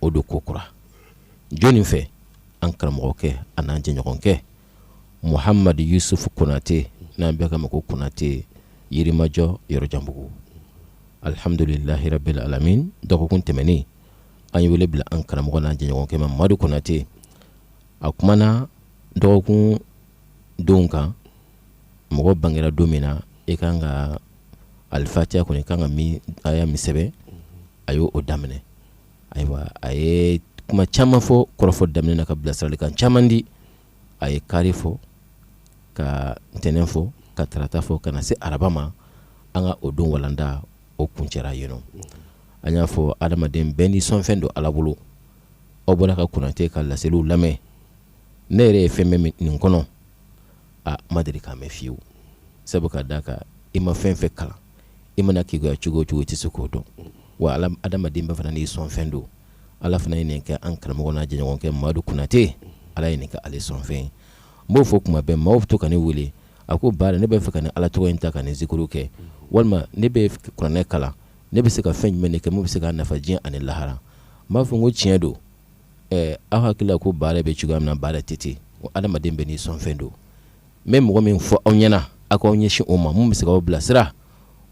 o don kokura jɔni fɛ an karamɔgɔkɛ ani an jɛɲɔgɔnkɛ muhamadu yusufu konatɛ n'an bɛ ka ma ko konatɛ yirimajɔ yɔrɔjanbugu alihamdulilahi rabili alamina dɔgɔkun tɛmɛnen an ye wele bila an karamɔgɔ n'an jɛɲɔgɔnkɛ ma madu konatɛ a kuma na dɔgɔkun donw kan mɔgɔ bangera don min na e kan ka alifatiya kɔnɔ i kan ka aya min sɛbɛn a y'o daminɛ ayiwa a ye kuma caman fɔ kɔrɔfɔ daminɛ na ka bilasiralikan caman di a ye kari fɔ ka ntɛnɛn fɔ ka tarata fɔ ka na se araba ma an ka o don walanda o kuncɛra yen an y'a fɔ adamaden bɛɛ n'i sɔn fɛn don ala bolo aw bɔra ka konatɛ ka laseliw lamɛn ne yɛrɛ ye fɛn mɛn nin kɔnɔ aa n ma deli k'a mɛn fiyewu sabu ka d'a kan i ma fɛn o fɛn kalan i mana keguya cogo o cogo i tɛ se k'o dɔn wa adamaden bɛɛ fana n'i sɔn fɛn don ala fana ye nin kɛ an karamɔgɔ n'an jɛɲɔgɔnkɛ madu konatɛ ala ye nin kɛ ale sɔn fɛn ye n b'o fɔ kuma bɛɛ maaw bɛ to ka ne wele a ko baara ne b'a fɛ ka nin ala tɔgɔ in ta ka nin zikuru kɛ walima ne bɛ kuranɛ kalan ne bɛ se ka fɛn jumɛn de kɛ min bɛ se ka n nafa diɲɛ ani lahara n b'a fɔ n ko tiɲɛ don ɛɛ aw hakili la ko baara bɛ cogoya min na baara tɛ ten ko adamaden bɛɛ n'i sɔn fɛn don n bɛ mɔgɔ min fɔ aw ɲɛna aw k'aw ɲɛsin o ma min bɛ se k'aw bilasira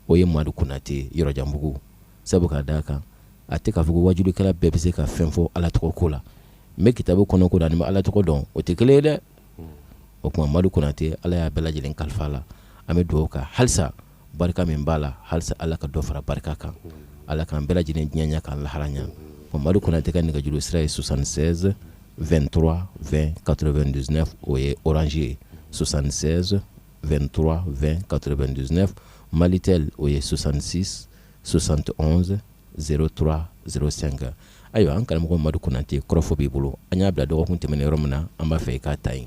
o ye Madu Konate yɔrɔjanbugu sabu ka d'a kan a tɛ k'a fɔ ko wajulikɛla bɛɛ bɛ se ka fɛn fɔ Ala tɔgɔ ko la mɛ kitabu kɔnɔ ko dɔn ani Ala tɔgɔ dɔn o tɛ kelen ye dɛ o tuma Madu Konate Ala y'a bɛɛ lajɛlen kalifa a la an bɛ dugawu kɛ halisa barika min b'a la hali ala ka dɔ fara barika kan ala k kanan bɛɛ lajɛlen diɲɛya k'a laharaya o mari kɔnɔ tɛ ka nɛgɛjuru sira ye sonsan2 dɔrɔn fɛn kato bɛ dus o ye oransi ye sonsan2 dɔrɔn fɛn kato bɛ dus mali tɛ o ye sonsansi sosan tɛ zetura s sen kan ayiwa an karamɔgɔ mari kɔnɔnatɛ kɔrɔfɔ b'i bolo an y'a bila dɔgɔkun tɛmɛn yɔrɔ min na an b'a fɛ i k'a ta ɲi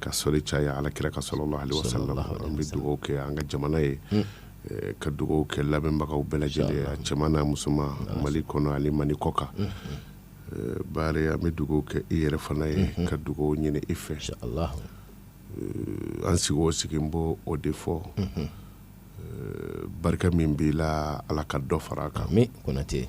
ka sɔli caya ala kira kan salalahu alayihi wa salamu an bɛ dugawu kɛ an ka jamana ye hmm. eh, ka dugawu kɛ lamɛnbagaw bɛɛ lajɛlen a cɛman n'a musoman mali kɔnɔ ani mali kɔkan hmm, hmm. eh, baare an bɛ dugawu kɛ i yɛrɛ fana ye ka dugawu ɲini i fɛ eh, an sigi o sigi n b'o de fɔ barika min b'i la ala ka dɔ fara a kan konate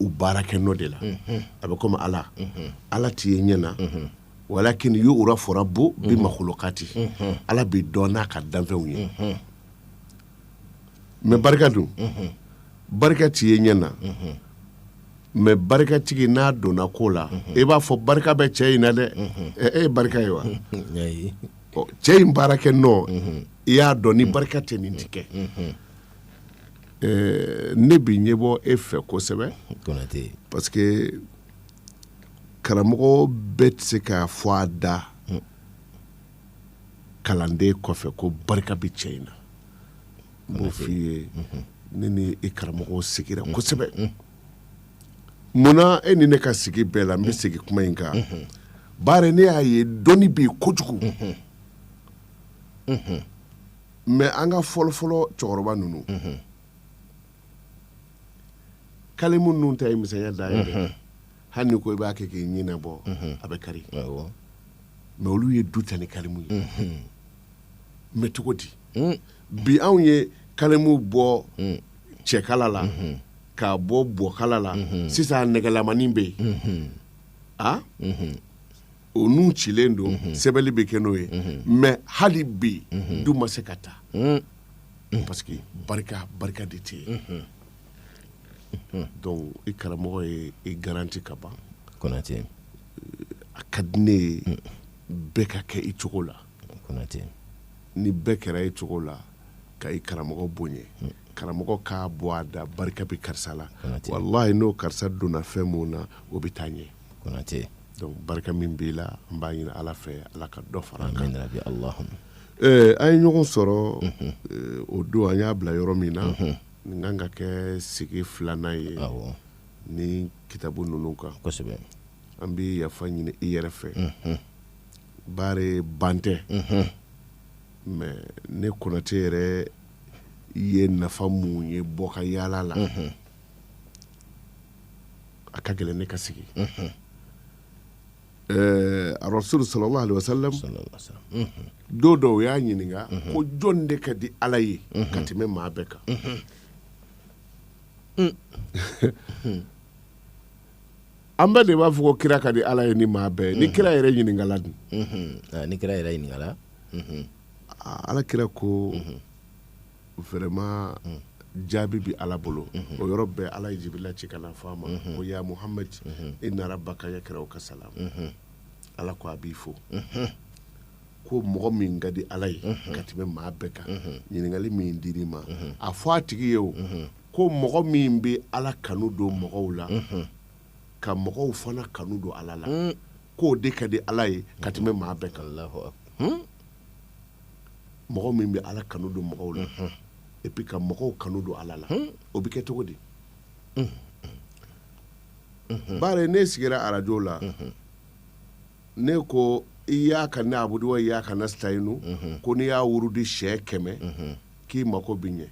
u baara kɛ nɔ de la a bɛ komi ala ala tɛ ye ɲɛ na walakini yurafu rabu bi makulukati ala bɛ dɔn n'a ka danfɛnw ye mɛ barika dun barika tɛ ye ɲɛ na mɛ barikatigi n'a donna ko la i b'a fɔ barika bɛ cɛ in na dɛ e ye barika ye wa cɛ in baara kɛ nɔ i y'a dɔn ni barika tɛ nin tɛ kɛ ɛɛ ne bɛ ɲɛ bɔ e fɛ kosɛbɛ Konate parce que karamɔgɔ bɛɛ tɛ se k'a fɔ a da kalanden kɔfɛ ko barika bɛ cɛ in na n b'o f'i ye ne ni e karamɔgɔw sigira kosɛbɛ munna e ni ne ka sigi bɛɛ la n bɛ segin kuma in kan bari ne y'a ye dɔnni bɛ yen kojugu mɛ an ka fɔlɔfɔlɔ cɛkɔrɔba ninnu kalimu ninnu ta ye misɛnya dan ye dɛ hali ni ko i b'a kɛ k'i ɲinɛ bɔ a bɛ kari awɔ mɛ olu ye du ta ni kalimu ye mɛ cogo di bi anw ye kalimu bɔ cɛkala la k'a bɔ bɔkala la sisan nɛgɛlamanin bɛ yen a o nun cilen don mhm. sɛbɛnli bɛ kɛ n'o ye mhm. mɛ hali bi mhm. du ma se ka ta parce que barika barika de tɛ yen donc i karamɔgɔ ye i garanti ka ban konate a ka di ne ye bɛɛ ka kɛ i cogo la konate ni bɛɛ kɛra i cogo la ka i karamɔgɔ bonya karamɔgɔ k'a bɔ a da barika bɛ karisa la walahi n'o karisa donna fɛn mun na o bɛ taa ɲɛ Konate donc barika min b'i la n b'a ɲini ala fɛ ala ka dɔ fara an kan rabi allahum Eh, an ye ɲɔgɔn sɔrɔ eh, o don an y'a bila yɔrɔ min na nin kan ka kɛ sigi filanan ye awɔ ni kitabu ninnu kan kosɛbɛ an bɛ yafa ɲini i yɛrɛ fɛ bari ban tɛ mɛ ne konate yɛrɛ ye nafa mun ye bɔ ka yaala la A ka gɛlɛn ne ka sigi arrasul sallallahu alaihi wasallam don dɔ u y'a ɲininka ko jɔn de ka di ala ye ka tɛmɛ maa bɛɛ kan an bɛɛ de b'a fɔ ko kira ka di ala ye ni maa bɛɛ ni kira yɛrɛ ɲininkala dun ni kira yɛrɛ ɲininkala ala kira ko vraiment mm. jaabi bɛ ala bolo mm-hmm. o yɔrɔ bɛɛ ala ye jibirila ci ka na fɔ a ma mm-hmm. ko ya muhamad mm-hmm. inna rabbaka yakra'uka salam ala ko a b'i fo ko mɔgɔ min ka di ala ye ka tɛmɛ maa bɛɛ kan ɲininkali min dir'i ma a fɔ a tigi ye o ko mɔgɔ min bɛ ala kanu don mɔgɔw la ka mɔgɔw fana kanu don ala la mm. k'o de ka di ala ye ka tɛmɛ maa bɛɛ kan mɔgɔ min bɛ ala kanu don mɔgɔw la et puis ka mɔgɔw kanu don ala la o bɛ kɛ cogo di bari ne sigira arajo la ne ko iyyaka na'budu wa iyyaka nasta'inu ko n'i y'a wurudi siyɛn kɛmɛ k'i mako bɛ ɲɛ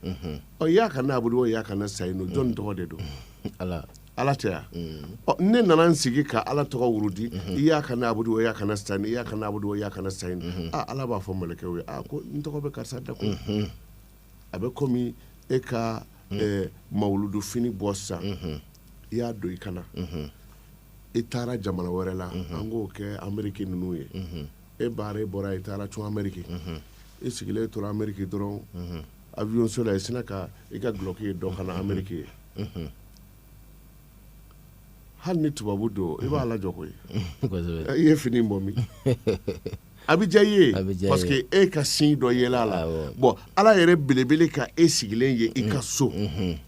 iyyaka na'budu wa iyyaka nasta'inu jɔn tɔgɔ de don ala ala tɛ yan ne nana n sigi ka ala tɔgɔ wurudi iyyaka na'budu wa iyyaka nasta'inu iyyaka na'budu wa iyyaka nasta'inu ala b'a fɔ mɛlɛkɛw ye a ko n tɔgɔ bɛ karisa da ko a bɛ komi e ka mawuludu fini bɔ sisan i y'a don i kan na i taara jamana wɛrɛ la an k'o kɛ ameriki ninnu ye e baare e bɔra i taara cun ameriki i sigilen tora ameriki dɔrɔn avion so la i sinna ka i ka dulɔki ye dɔ kan na ameriki ye hali ni tubabu don i b'a lajɔ koyi i ye fini bɔ min a bɛ diya i ye parce que e ka sin dɔ yela a la bɔn ala yɛrɛ belebele ka e sigilen ye i ka so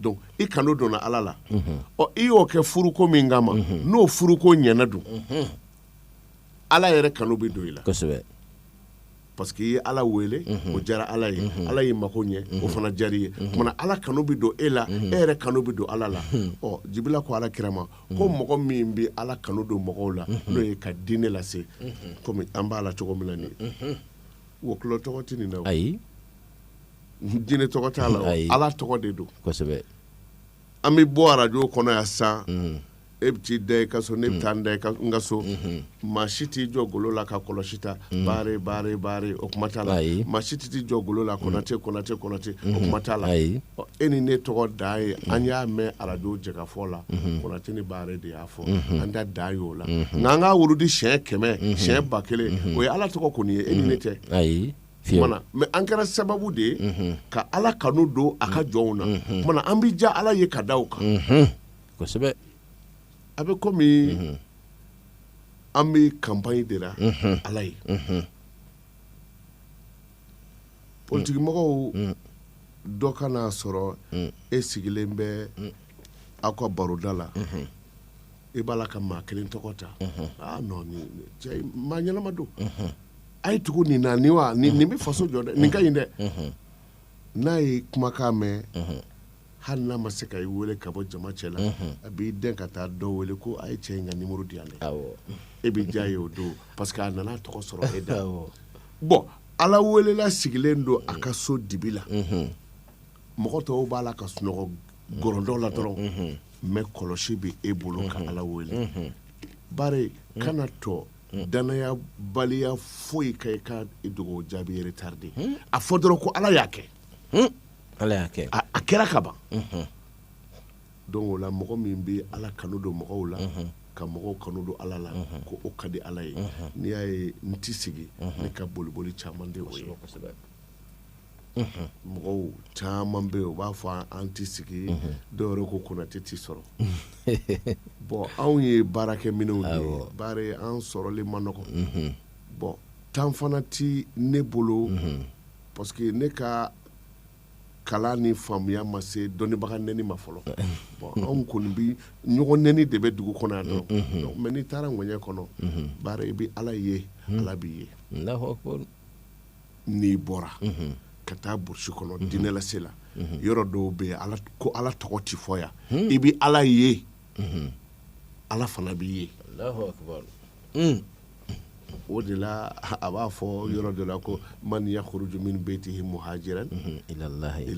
donc i kanu donna ala la ɔ i y'o kɛ furuko min kama n'o furuko ɲɛna dun ala yɛrɛ kanu bɛ don i la kosɛbɛ parce que i ye ala wele o diyara ala ye ala y'i mako ɲɛ o fana diyara i ye kumana ala kanu bɛ don e la e yɛrɛ kanu bɛ don ala la ɔ jibila ko ala kira ma ko mɔgɔ min bɛ ala kanu don mɔgɔw la n'o ye ka diinɛ lase komi an b'a la cogo min na nin ye wɔkulɔ tɔgɔ tɛ nin na o. ayi jinɛ tɔgɔ t'a la o, Ayi. ala tɔgɔ de don kosɛbɛ an bɛ bɔ arajo kɔnɔ yan sisan Mhm. e bɛ t'i da i ka so ne bɛ taa n da i ka- n ka so maa si t'i jɔ golo la ka kɔlɔsi ta baare baare baare o kuma t'a la Ayi. maa si tɛ t'i jɔ golo la konate konate konate o kuma t'a la Ayi. Ɔ, e ni ne tɔgɔ dan ye an y'a mɛn arajo jɛkafɔ la konate ni baare de y'a fɔ an da dan y'o la nka an ka wurudi siɲɛ kɛmɛ siɲɛ ba kelen o ye ala tɔgɔ kɔni ye e ni ne tɛ ayi mais an kɛra sababu de ye ka ala kanu don a ka jɔnw na kumana an bɛ diya ala ye ka da o kan kosɛbɛ a bɛ komi an bɛ campagne de la ala ye politikimɔgɔw dɔ ka na a sɔrɔ e sigilen bɛ aw ka baroda la e b'a la ka maa kelen tɔgɔ ta aa non maa ɲɛnama don a ye tugu nin na nin wa nin nin bɛ faso jɔ dɛ nin ka ɲi dɛ n'a y'e kumakan mɛn hali n'a ma se ka i wele ka bɔ jama cɛ la a b'i dɛn ka taa dɔ wele ko a ye cɛ in ka nimɔrɔ di yan dɛ e bɛ diya a ye o don parce que a nana tɔgɔ sɔrɔ e da bɔn ala welela sigilen don a ka so dibi la mɔgɔ tɔw b'a la ka sunɔgɔ gɔrɔndɔ la dɔrɔn mais kɔlɔsi bɛ e bolo ka ala wele baare kana to Hmm. Dannayabaliya foyi ka i ka dugawu jaabi retarder hmm. a fɔ dɔrɔn ko ala y'a kɛ hmm. ala y'a kɛ a kɛra ka ban donc o la mɔgɔ min bɛ ala kanu don mɔgɔw la ka mɔgɔw kanu don ala la ko o ka di ala ye n'i y'a ye n tɛ sigi ne ka boliboli caman de o ye mɔgɔw caman bɛ yen u b'a fɔ an tɛ sigi dɔw yɛrɛ ko konatɛ tɛ sɔrɔ bon anw ye baarakɛminɛnw de ye baara an sɔrɔli man nɔgɔ bon temps fana tɛ ne bolo parce que ne ka kalan ni faamuya ma se dɔnnibaga neni ma fɔlɔ bon anw kɔni bi ɲɔgɔn neni de bɛ dugu kɔnɔ yan dɔrɔn mais n'i taara ŋɛɲɛ kɔnɔ baara i bɛ ala ye ala b'i ye n'i bɔra ka taa burusi kɔnɔ diinɛlase la yɔrɔ dɔw bɛ yen ko ala tɔgɔ tɛ fɔ yan i bɛ ala ye ala fana b'i ye o de la a b'a fɔ yɔrɔ dɔ la ko man yakhruju min baytihi muhajiran ilallahi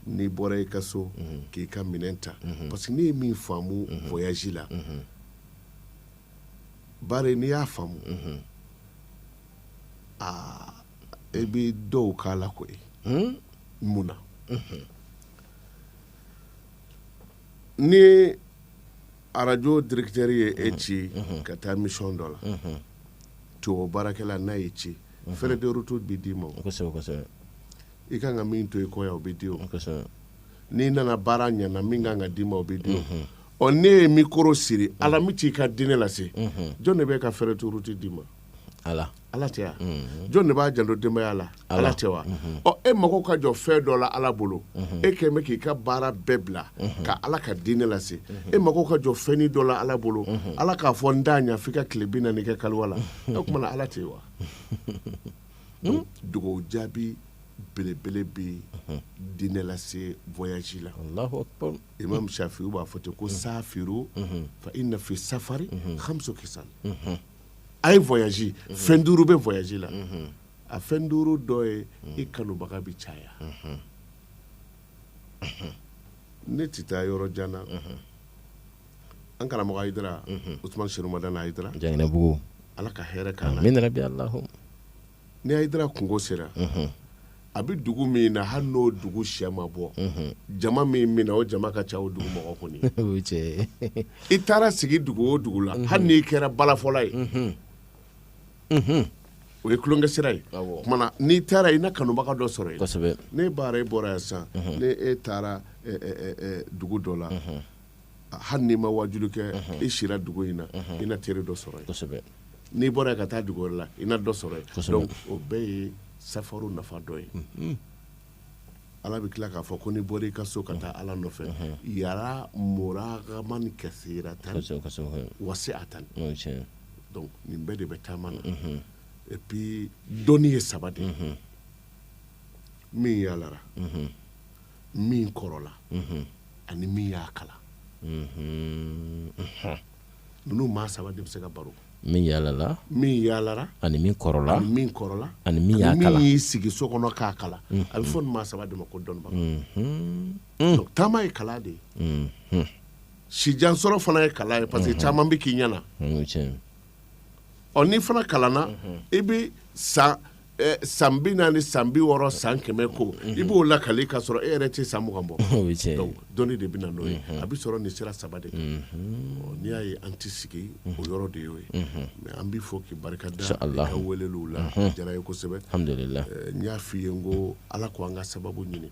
n'i bɔra i ka so k'i ka minɛn ta parce que ne ye min faamu voyage la bari n'i y'a faamu e bɛ dɔw k'a la ko mun na ni arajo directeur ye e ci ka taa mission dɔ la tubabu baarakɛla n'a y'e ci frais de route bɛ d'i ma i ka kan ka min to i kɔ yan o bɛ di o n'i nana baara ɲana min kan ka d'i ma o bɛ di ɔ ne ye micro siri ala min ci i ka diinɛ lase jɔn de bɛ ka frais de route d'i ma ala ala tɛ wa mhm. jɔn de b'a janto denbaya la ala tɛ wa mhm. ɔ e mago ka jɔ fɛn dɔ la ala bolo mhm. e kɛlen bɛ k'i ka baara bɛɛ bila ka ala ka diinɛ lase e mago ka jɔ fɛnnin dɔ la ala bolo ala k'a fɔ n t'a ɲa f'i ka tile bi naani kɛ kaliwa la o tuma na ala tɛ wa hmm? dugawu jaabi belebele bɛ diinɛ lase voyage la imam shafi'u b'a fɔ ten ko safiru fa inna fi safari khamsu khisal a ye voyage fɛn duuru bɛ voyage la a fɛn duuru dɔ ye i kanubaga bɛ caya ne tɛ taa yɔrɔ jan na an karamɔgɔ Ayidara Usumani Serifu Madani Ayidara Janginɛbugu Ala ka hɛrɛ k'an na amina yarabi Ni Ayidara kungo sera a bɛ dugu min na hali n'o dugu sɛ ma bɔ jama min na o jama ka ca o dugu mɔgɔ kɔni i taara sigi dugu o dugu la hali n'i kɛra balafɔla ye o ye tulonkɛ sira ye n'i taara i na kanubaga dɔ sɔrɔ yen ne baara e bɔra yan sisan ne e taara dugu dɔ la hali n'i ma wajulu kɛ i sira dugu in na i na teri dɔ sɔrɔ yen n'i bɔra ka taa dugu wɛrɛ la i na dɔ sɔrɔ yen o bɛɛ ye safaru nafa dɔ ye ala bɛ tila k'a fɔ ko n'i bɔra i ka so ka taa ala nɔfɛ yara muragaman kasiratan wasi'atan nin bɛɛ de bɛ taama na et puis dɔnni ye saba de ye min yaalara min kɔrɔla mhm. ani min y'a kala mhm. mhm. ninnu maa saba de bɛ se ka baro min yaalala min yaalara ani min kɔrɔla ani min kɔrɔla ani min y'a kala min y'i sigi so kɔnɔ k'a kala a bɛ fɔ nin maa saba de ma ko dɔnnibaga donc taama ye kala de ye sijansɔrɔ fana ye kala ye parce que caman bɛ k'i ɲɛna ɔ n'i fana kalanna i bɛ san eh, san bi naani san bi wɔɔrɔ san kɛmɛ ko i b'o lakali k'a sɔrɔ e yɛrɛ tɛ san mugan bɔ O ye tiɲɛ ye. Donc, dɔnni de bɛ na n'o ye a bɛ sɔrɔ nin sira saba de kan Ɔ, n'i y'a ye an tɛ sigi o yɔrɔ de y'o ye mais an b'i fo k'i barika da i Inshallah. ka weleliw la a diyara ye kosɛbɛ alhamdulilah Eh, n y'a f'i ye n ko ala ko an ka sababu ɲini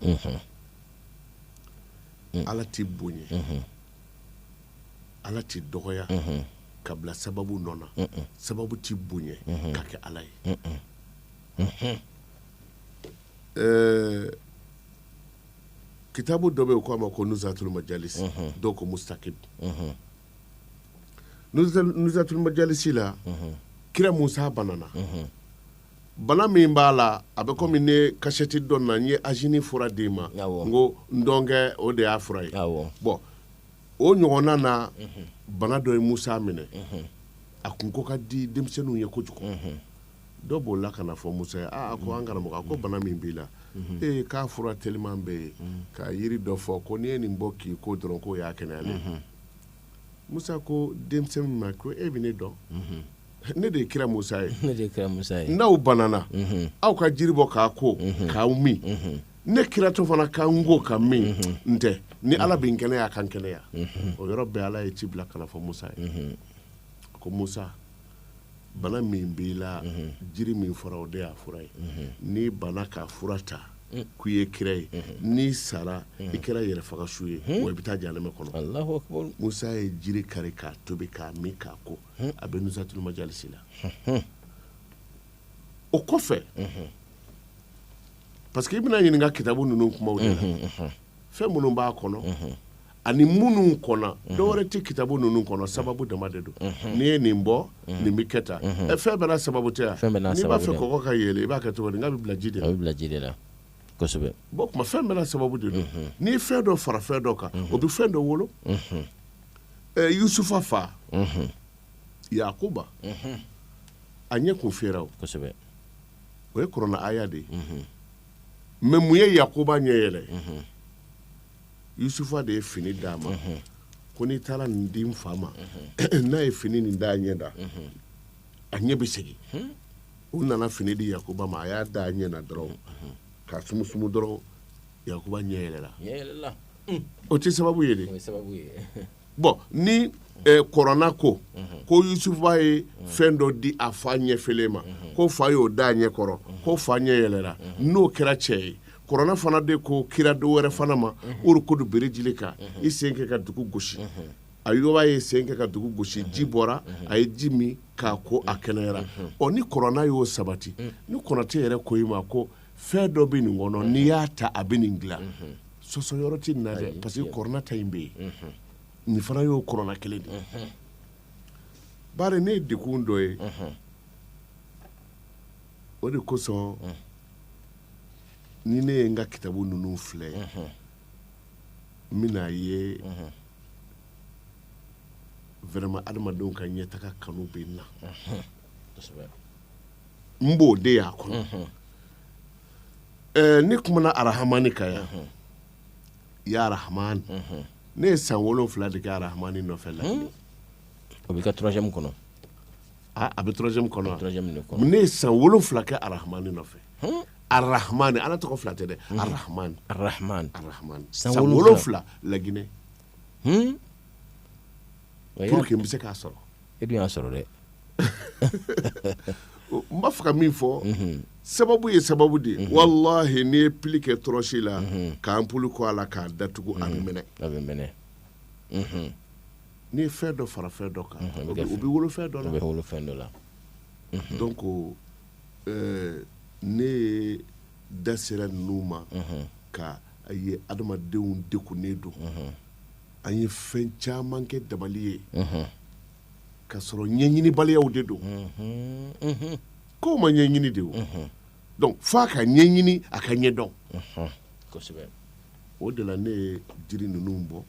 ala tɛ bonya Ala tɛ dɔgɔya ka bila sababu nɔ na sababu tɛ bonya ka kɛ Ala ye ɛɛ kitabu dɔ bɛ yen k'a ma ko nuzatul majalisi dɔw ko mustakib nuzatul majalisi la kira Musa banana bana min b'a la a bɛ komi ne kasɛti dɔ na n ye angine fura d'i ma n ko ntɔnkɛ o de y'a fura ye bon o ɲɔgɔnna na mhm. bana dɔ ye musa minɛ mhm. a kun ko ka di denmisɛnninw ye kojugu mhm. dɔ b'o la ka na fɔ musa ye aa ko an karamɔgɔ a ko bana min b'i la ee k'a fura teliman bɛ yen ka yiri dɔ fɔ ko n'i ye nin bɔ k'i ko dɔrɔn k'o y'a kɛnɛyalen musa ko denmisɛnnin ma ko e bɛ ne dɔn ne de ye kira musa ye ne de ye kira musa ye n'aw banana mhm. aw ka jiri bɔ k'a ko mhm. k'aw min mhm. ne kiratɔ fana ka n ko ka min n tɛ ni ala bɛ n kɛnɛya a ka n kɛnɛya o yɔrɔ bɛɛ ala ye ci bila ka na fɔ musa ye ko musa bana min b'i la jiri min fɔra o de y'a fura ye n'i banna k'a fura ta mm. k'i ye kira ye n'i sara i kɛra yɛrɛfagasu ye wa i bɛ taa janɛmɛ kɔnɔ musa ye jiri kari k'a tobi k'a min k'a ko a bɛ nuzatul majalisi la o kɔfɛ parce que i bɛna ɲininka kitabu ninnu kumaw de la fɛn minnu b'a kɔnɔ ani minnu kɔnɔ dɔwɛrɛ tɛ kitabu ninnu kɔnɔ sababu dama de don n'i ye nin bɔ nin bɛ kɛ tan fɛn bɛɛ n'a sababu tɛ n'i b'a fɛ kɔgɔ ka yeelen i b'a kɛ cogo di n k'a bɛ bila ji de la a bɛ bila ji de la kuma fɛn bɛɛ n'a sababu de don n'i ye fɛn dɔ fara fɛn dɔ kan o bɛ fɛn dɔ wolo Yusufa fa yakuba a ɲɛ kun fiyɛra o o ye kɔrɔna aya de ye mais mun ye yakuba ɲɛ yɛlɛ yusufa de ye fini d'a ma ko n'i taara nin di n fa ma n'a ye fini nin da a ɲɛ da a ɲɛ bɛ segin u nana fini di yakuba ma a y'a da a ɲɛ na dɔrɔn k'a sumusumu dɔrɔn yakuba ɲɛ yɛlɛla o tɛ sababu ye dɛ bon ni kɔrɔna ko ko yusufa ye fɛn dɔ di a fa ɲɛ fiyɛlen ma ko fa y'o da ɲɛ kɔrɔ ko fa ɲɛ yɛlɛla n'o kɛra cɛ ye kɔrɔna fana de ko kira dɔ wɛrɛ fana ma urukudu birijilika i sen kɛ ka dugu gosi ayuba ye sen kɛ ka dugu gosi ji bɔra a ye ji min k'a ko a kɛnɛyara ɔ ni kɔrɔna y'o sabati ni kɔrɔtɛ yɛrɛ ko i ma ko fɛn dɔ bɛ nin kɔnɔ n'i y'a ta a bɛ nin dilan sɔsɔ yɔrɔ tɛ nin na dɛ parce que kɔrɔna ta in bɛ yen nin fana y'o kɔrɔna kelen de ye bari ne ye dekun dɔ ye o de kosɔn ni ne ye n ka kitabu ninnu filɛ n bɛn'a ye vraiment adamadenw ka ɲɛtaga kanu bɛ n na kosɛbɛ n b'o de y'a kɔnɔ ɛɛ ne kumana arahamani kan yan ya arahamani ne ye san wolonwula de kɛ arahamani nɔfɛ la o b'i ka troisième kɔnɔ a a bɛ troisième kɔnɔ wa? troisième de kɔnɔ ne ye san wolonwula kɛ arahamani nɔfɛ arahamani ala tɔgɔ fila tɛ dɛ arahamani arahman arahamani san wolonwula laginɛ Hmm? bɛ se k'a sɔrɔ e y'a sɔrɔ dɛ n b'a fɛ ka min fɔ mhm. sababu ye sababu de mhm. wallahi n'i ye pili kɛ tɔrɔsi la mhm. k'anpuli kɛ a la k'a datugu a mɛnɛ a bɛ mɛnɛ n'i ye fɛn dɔ fara fɛn dɔ kan o bɛ wolo fɛn dɔ la bɛ wolo fɛn dɔ la donc ne ye da sera ninnu ma k'a ye adamadenw dekunnen don an ye fɛn caman kɛ dabali ye ka sɔrɔ ɲɛɲinibaliyaw de don kow ma ɲɛɲini de donc f'a ka ɲɛɲini a ka ɲɛ dɔn o de la ne ye jiri ninnu bɔ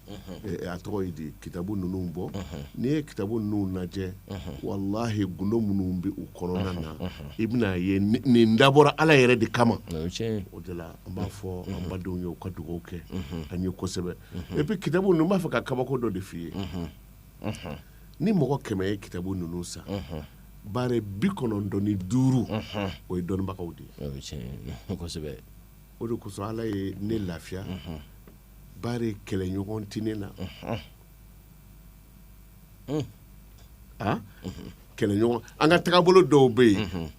a tɔgɔ ye di kitabu ninnu bɔ n'i ye kitabu ninnu lajɛ walahi gundo minnu bɛ u kɔnɔna na i bɛna ye nin dabɔra ala yɛrɛ de kama o de la an b'a fɔ an badenw ye u ka dugawu kɛ an ye kosɛbɛ et puis kitabu ninnu n b'a fɛ ka kabako dɔ de f'i ye ni mɔgɔ kɛmɛ ye kitabu ninnu san bari bi kɔnɔntɔn ni duuru o ye dɔnnibagaw de ye o de kosɔn ala ye ne lafiya bari kɛlɛɲɔgɔn tɛ ne na kɛlɛɲɔgɔn an ka tagabolo dɔw bɛ yen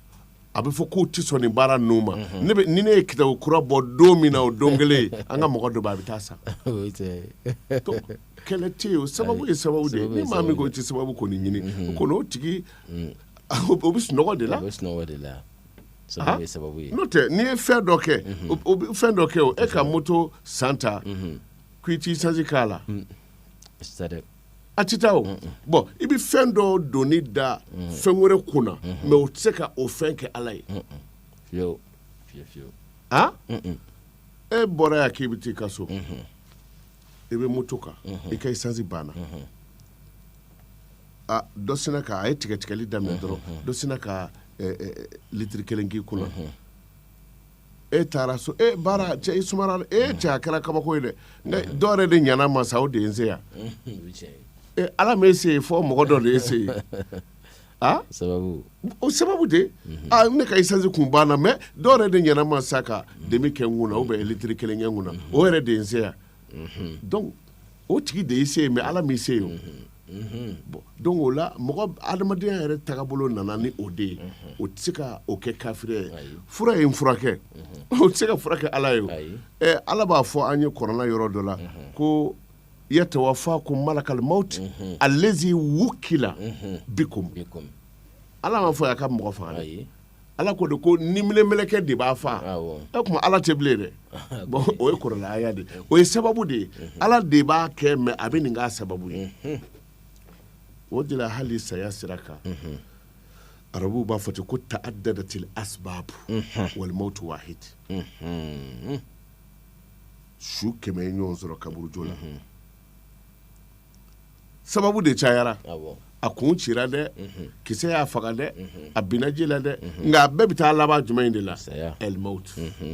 a bɛ fɔ k'u tɛ sɔn nin baara ninnu ma ne bɛ- ni ne ye kitabu kura bɔ don min na o don kelen an ka mɔgɔ dɔ bɛ a bɛ taa a san o ye tiɲɛ ye. Donc, kɛlɛ tɛ yen o sababu ye sababu de ye sababu ye ni maa min ko i tɛ sababu kɔni ɲini o kɔni o tigi o o bɛ sunɔgɔ de la a bɛ sunɔgɔ de la sababu ye sababu ye n'o tɛ n'i ye fɛn dɔ kɛ o- o bɛ fɛn dɔ kɛ o e ka moto san ta k'i t'isansi k'a la c'est ça dɛ a tɛ taa o bɔn i bɛ fɛn dɔ doni da fɛn wɛrɛ kun na mɛ o tɛ se ka o fɛn kɛ ala ye e bɔra yan k'i bɛ taa i ka so i bɛ moto kan i ka isansi banna dɔ sinna ka a ye tigɛtigɛli daminɛ dɔrɔn dɔ sinna ka litiri kelen k'i kun e taara so e baara cɛ i sumara e cɛ a kɛra kabako ye dɛ dɔ yɛrɛ de ɲana n ma sa o de ye n se yan ala ma e se yen fɔ mɔgɔ dɔ de y'e se yen a sababu o sababu de aa ne ka isansi kun banna mɛ dɔ yɛrɛ de ɲana n ma sa ka demi kɛ n kun na ou bien litiri kelen kɛ n kun na o yɛrɛ de ye n se yan o tigi de y'i se yen mɛ ala m'i se yen donc o la mɔgɔ adamadenya yɛrɛ tagabolo nana ni o de ye o tɛ se ka o kɛ kafiri ye fura ye n furakɛ o tɛ se ka fura kɛ ala ye ala b'a fɔ an ye kurana yɔrɔ dɔ la ko yatawafakum malakul mawti alazi wukila bikum ala m'a fɔ a ka mɔgɔ faga dɛ ala ko de ko niminɛmɛlɛkɛ de b'a faa o tuma ala tɛ bilen dɛ bɔn o ye kurana aya de o ye sababu de ye ala de b'a kɛ mɛ a bɛ nin k'a sababu ye o de la hali saya sira kan arabuw b'a fɔ ten ko ta'adadatil asibaabu wal mawtu wahid su kɛmɛ ye ɲɔgɔn sɔrɔ kaburudo la sababu de cayara a kun cira dɛ mhm. kisɛ y'a faga dɛ mhm. a binna ji la dɛ mhm. nka a bɛɛ bɛ taa laban jumɛn in de la el maut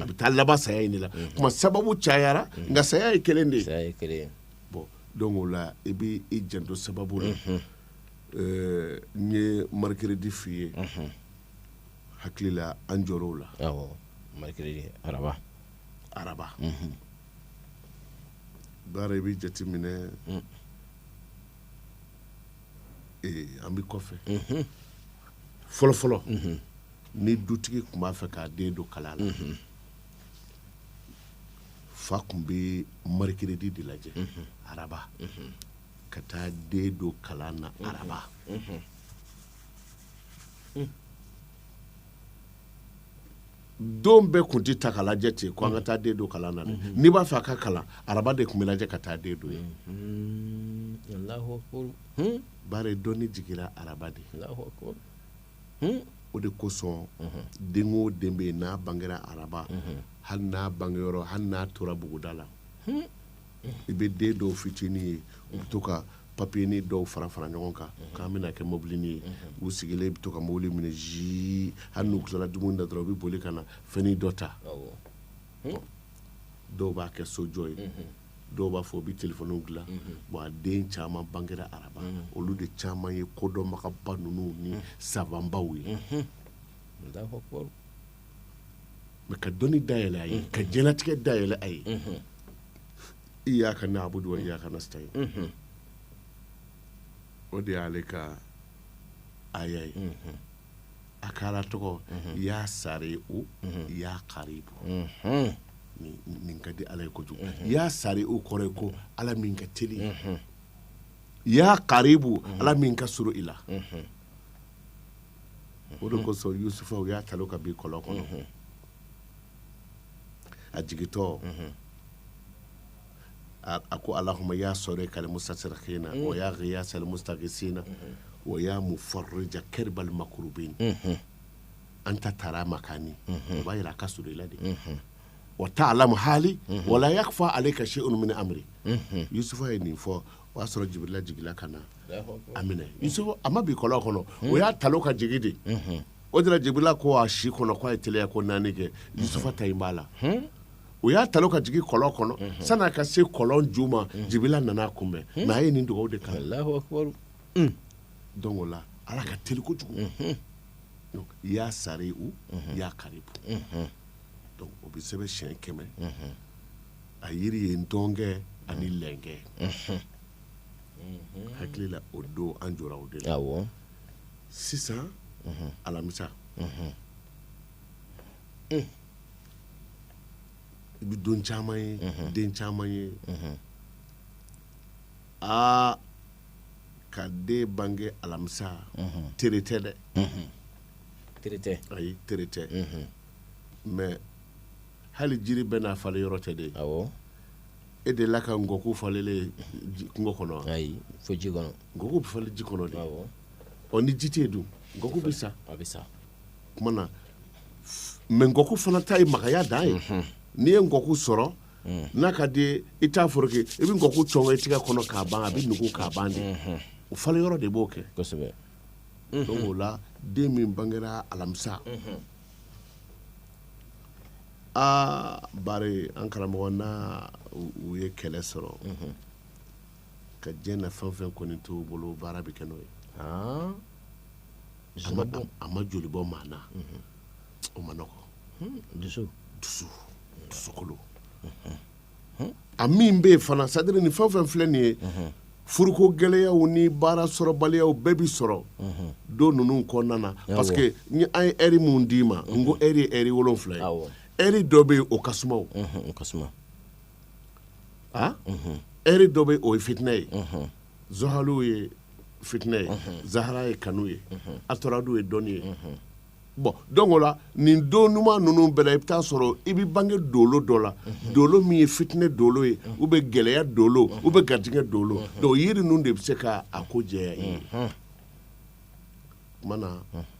a bɛ taa laban saya in de la kuma sababu cayara nka saya ye kelen de ye bon donc o la i bɛ i janto sababu la n ye mercredi f'i ye hakili la an jɔr'o la awɔ mercredi araba araba baara i bɛ jate minɛ mm. an bɛ kɔfɛ mm-hmm. fɔlɔfɔlɔ mm-hmm. ni dutigi tun b'a fɛ k'a den don kalan na mm-hmm. fa tun bɛ mercredi de lajɛ araba ka taa den don kalan na araba mm. don bɛɛ tun tɛ ta ka lajɛ ten ko an ka taa den don kalan na mhm. n'i b'a fɛ a ka kalan araba de tun bɛ lajɛ ka taa den don ye mhm. hmm? bari dɔnni jigira araba de hmm? o de kosɔn mhm. den o den bɛ yen n'a bangera araba hali n'a bangeyɔrɔ hali n'a tora buguda la hmm? i bɛ den dɔw fitinin ye u bɛ to ka papiyenin dɔw fara fara ɲɔgɔn kan mhm. k'an bɛna kɛ mobilinin ye mhm. u sigilen bɛ to ka mobili minɛ zii hali n'u tilala dumuni na dɔrɔn u bɛ boli ka na fɛnnin dɔ ta hmm? dɔw b'a kɛ sojɔ ye mhm. dɔw b'a fɔ u bɛ telefɔniw dilan bon a den caman bangera araba olu de caman ye kodɔnbagaba ninnu ni savanbaw ye mɛ ka dɔnni dayɛlɛ a ye ka diɲɛlatigɛ dayɛlɛ a ye iyaka na'budu wa iyaka nasta'in o de y'ale ka aya ye a ka ala tɔgɔ ya sari'u ya karibu nin ka di ala ye kojugu ya sari'u kɔrɔ ye ko ala min ka teli ya karibu ala min ka surun i la o de kosɔn yusufa u y'a talon ka bin kɔlɔn kɔnɔ a jigintɔ a ko allahuma ya sarikal mustasirikina wa ya giyasal mustagisina wa ya mufarija karbal makrubin anta tara makani o b'a jira a ka surun i la de wa ta'alamu hali wala yakfa alayka shay'un min amri yusufa ye nin fɔ o y'a sɔrɔ jibirila jigila ka na a minɛ yusufa a ma bin kɔlɔn kɔnɔ o y'a ta ka jigin de o de la jibirila ko a si kɔnɔ k'a ye teliya ko naani kɛ yusufa ta in b'a la o y'a ta ka jigin kɔlɔn kɔnɔ sani a ka se kɔlɔn ju ma jibirila nana a kunbɛn mais a ye nin dugawu de kalan donc o la ala ka teli kojugu ya sari'u ya karibu o bɛ sɛbɛn siyɛn kɛmɛ a yiri ye ntɔnkɛ ani lɛnkɛ hakili la o don an jɔra o de la sisan alamisa i bɛ don caman ye den caman ye aa ka den bange alamisa tere tɛ dɛ tere tɛ ayi tere tɛ mais hali jiri bɛɛ n'a falen yɔrɔ tɛ de awɔ e delila ka nkɔku falelen ye kungo kɔnɔ wa? ayi fo ji kɔnɔ nkɔku bɛ falen ji kɔnɔ de awɔ ɔ ni ji tɛ yen dun nkɔku bɛ sa a bɛ sa kuma na mais nkɔku fana ta ye magaya dan ye mhm. n'i ye nkɔku sɔrɔ mhm. n'a ka di i t'a foroki i bɛ nkɔku cɔngɔ i tɛgɛ kɔnɔ k'a ban a bɛ nugu k'a ban de mhm. o falen yɔrɔ de b'o kɛ kosɛbɛ donc o la den min bangera alamisa aa bari an karamɔgɔ n'a u ye kɛlɛ sɔrɔ ka diɲɛ na fɛn fɛn kɔni t'u bolo baara bɛ kɛ n'o ye a ma joli bɔ maa na o ma nɔgɔ dusu dusu dusukolo a min bɛ yen fana c'est-à-dire ni fɛn fɛn filɛ nin ye furuko gɛlɛyaw ni baara sɔrɔbaliyaw bɛɛ bɛ sɔrɔ don ninnu kɔnɔna na parce que ni an ye heure minnu d'i ma n ko heure ye heure wolon wolonwula ye heure dɔ bɛ yen o ka suma a heure dɔ bɛ yen o ye fitinɛ ye zohalu ye fitinɛ ye zahara ye kanu ye atoradu ye dɔnni ye bon donc o la nin don ɲuman ninnu bɛɛ la i bɛ taa a sɔrɔ i bɛ bange dolo dɔ la dolo min ye fitinɛ dolo ye ou bien gɛlɛya dolo ou bien garijɛgɛ dolo donc yiri ninnu de bɛ se k' a ko jɛya i ye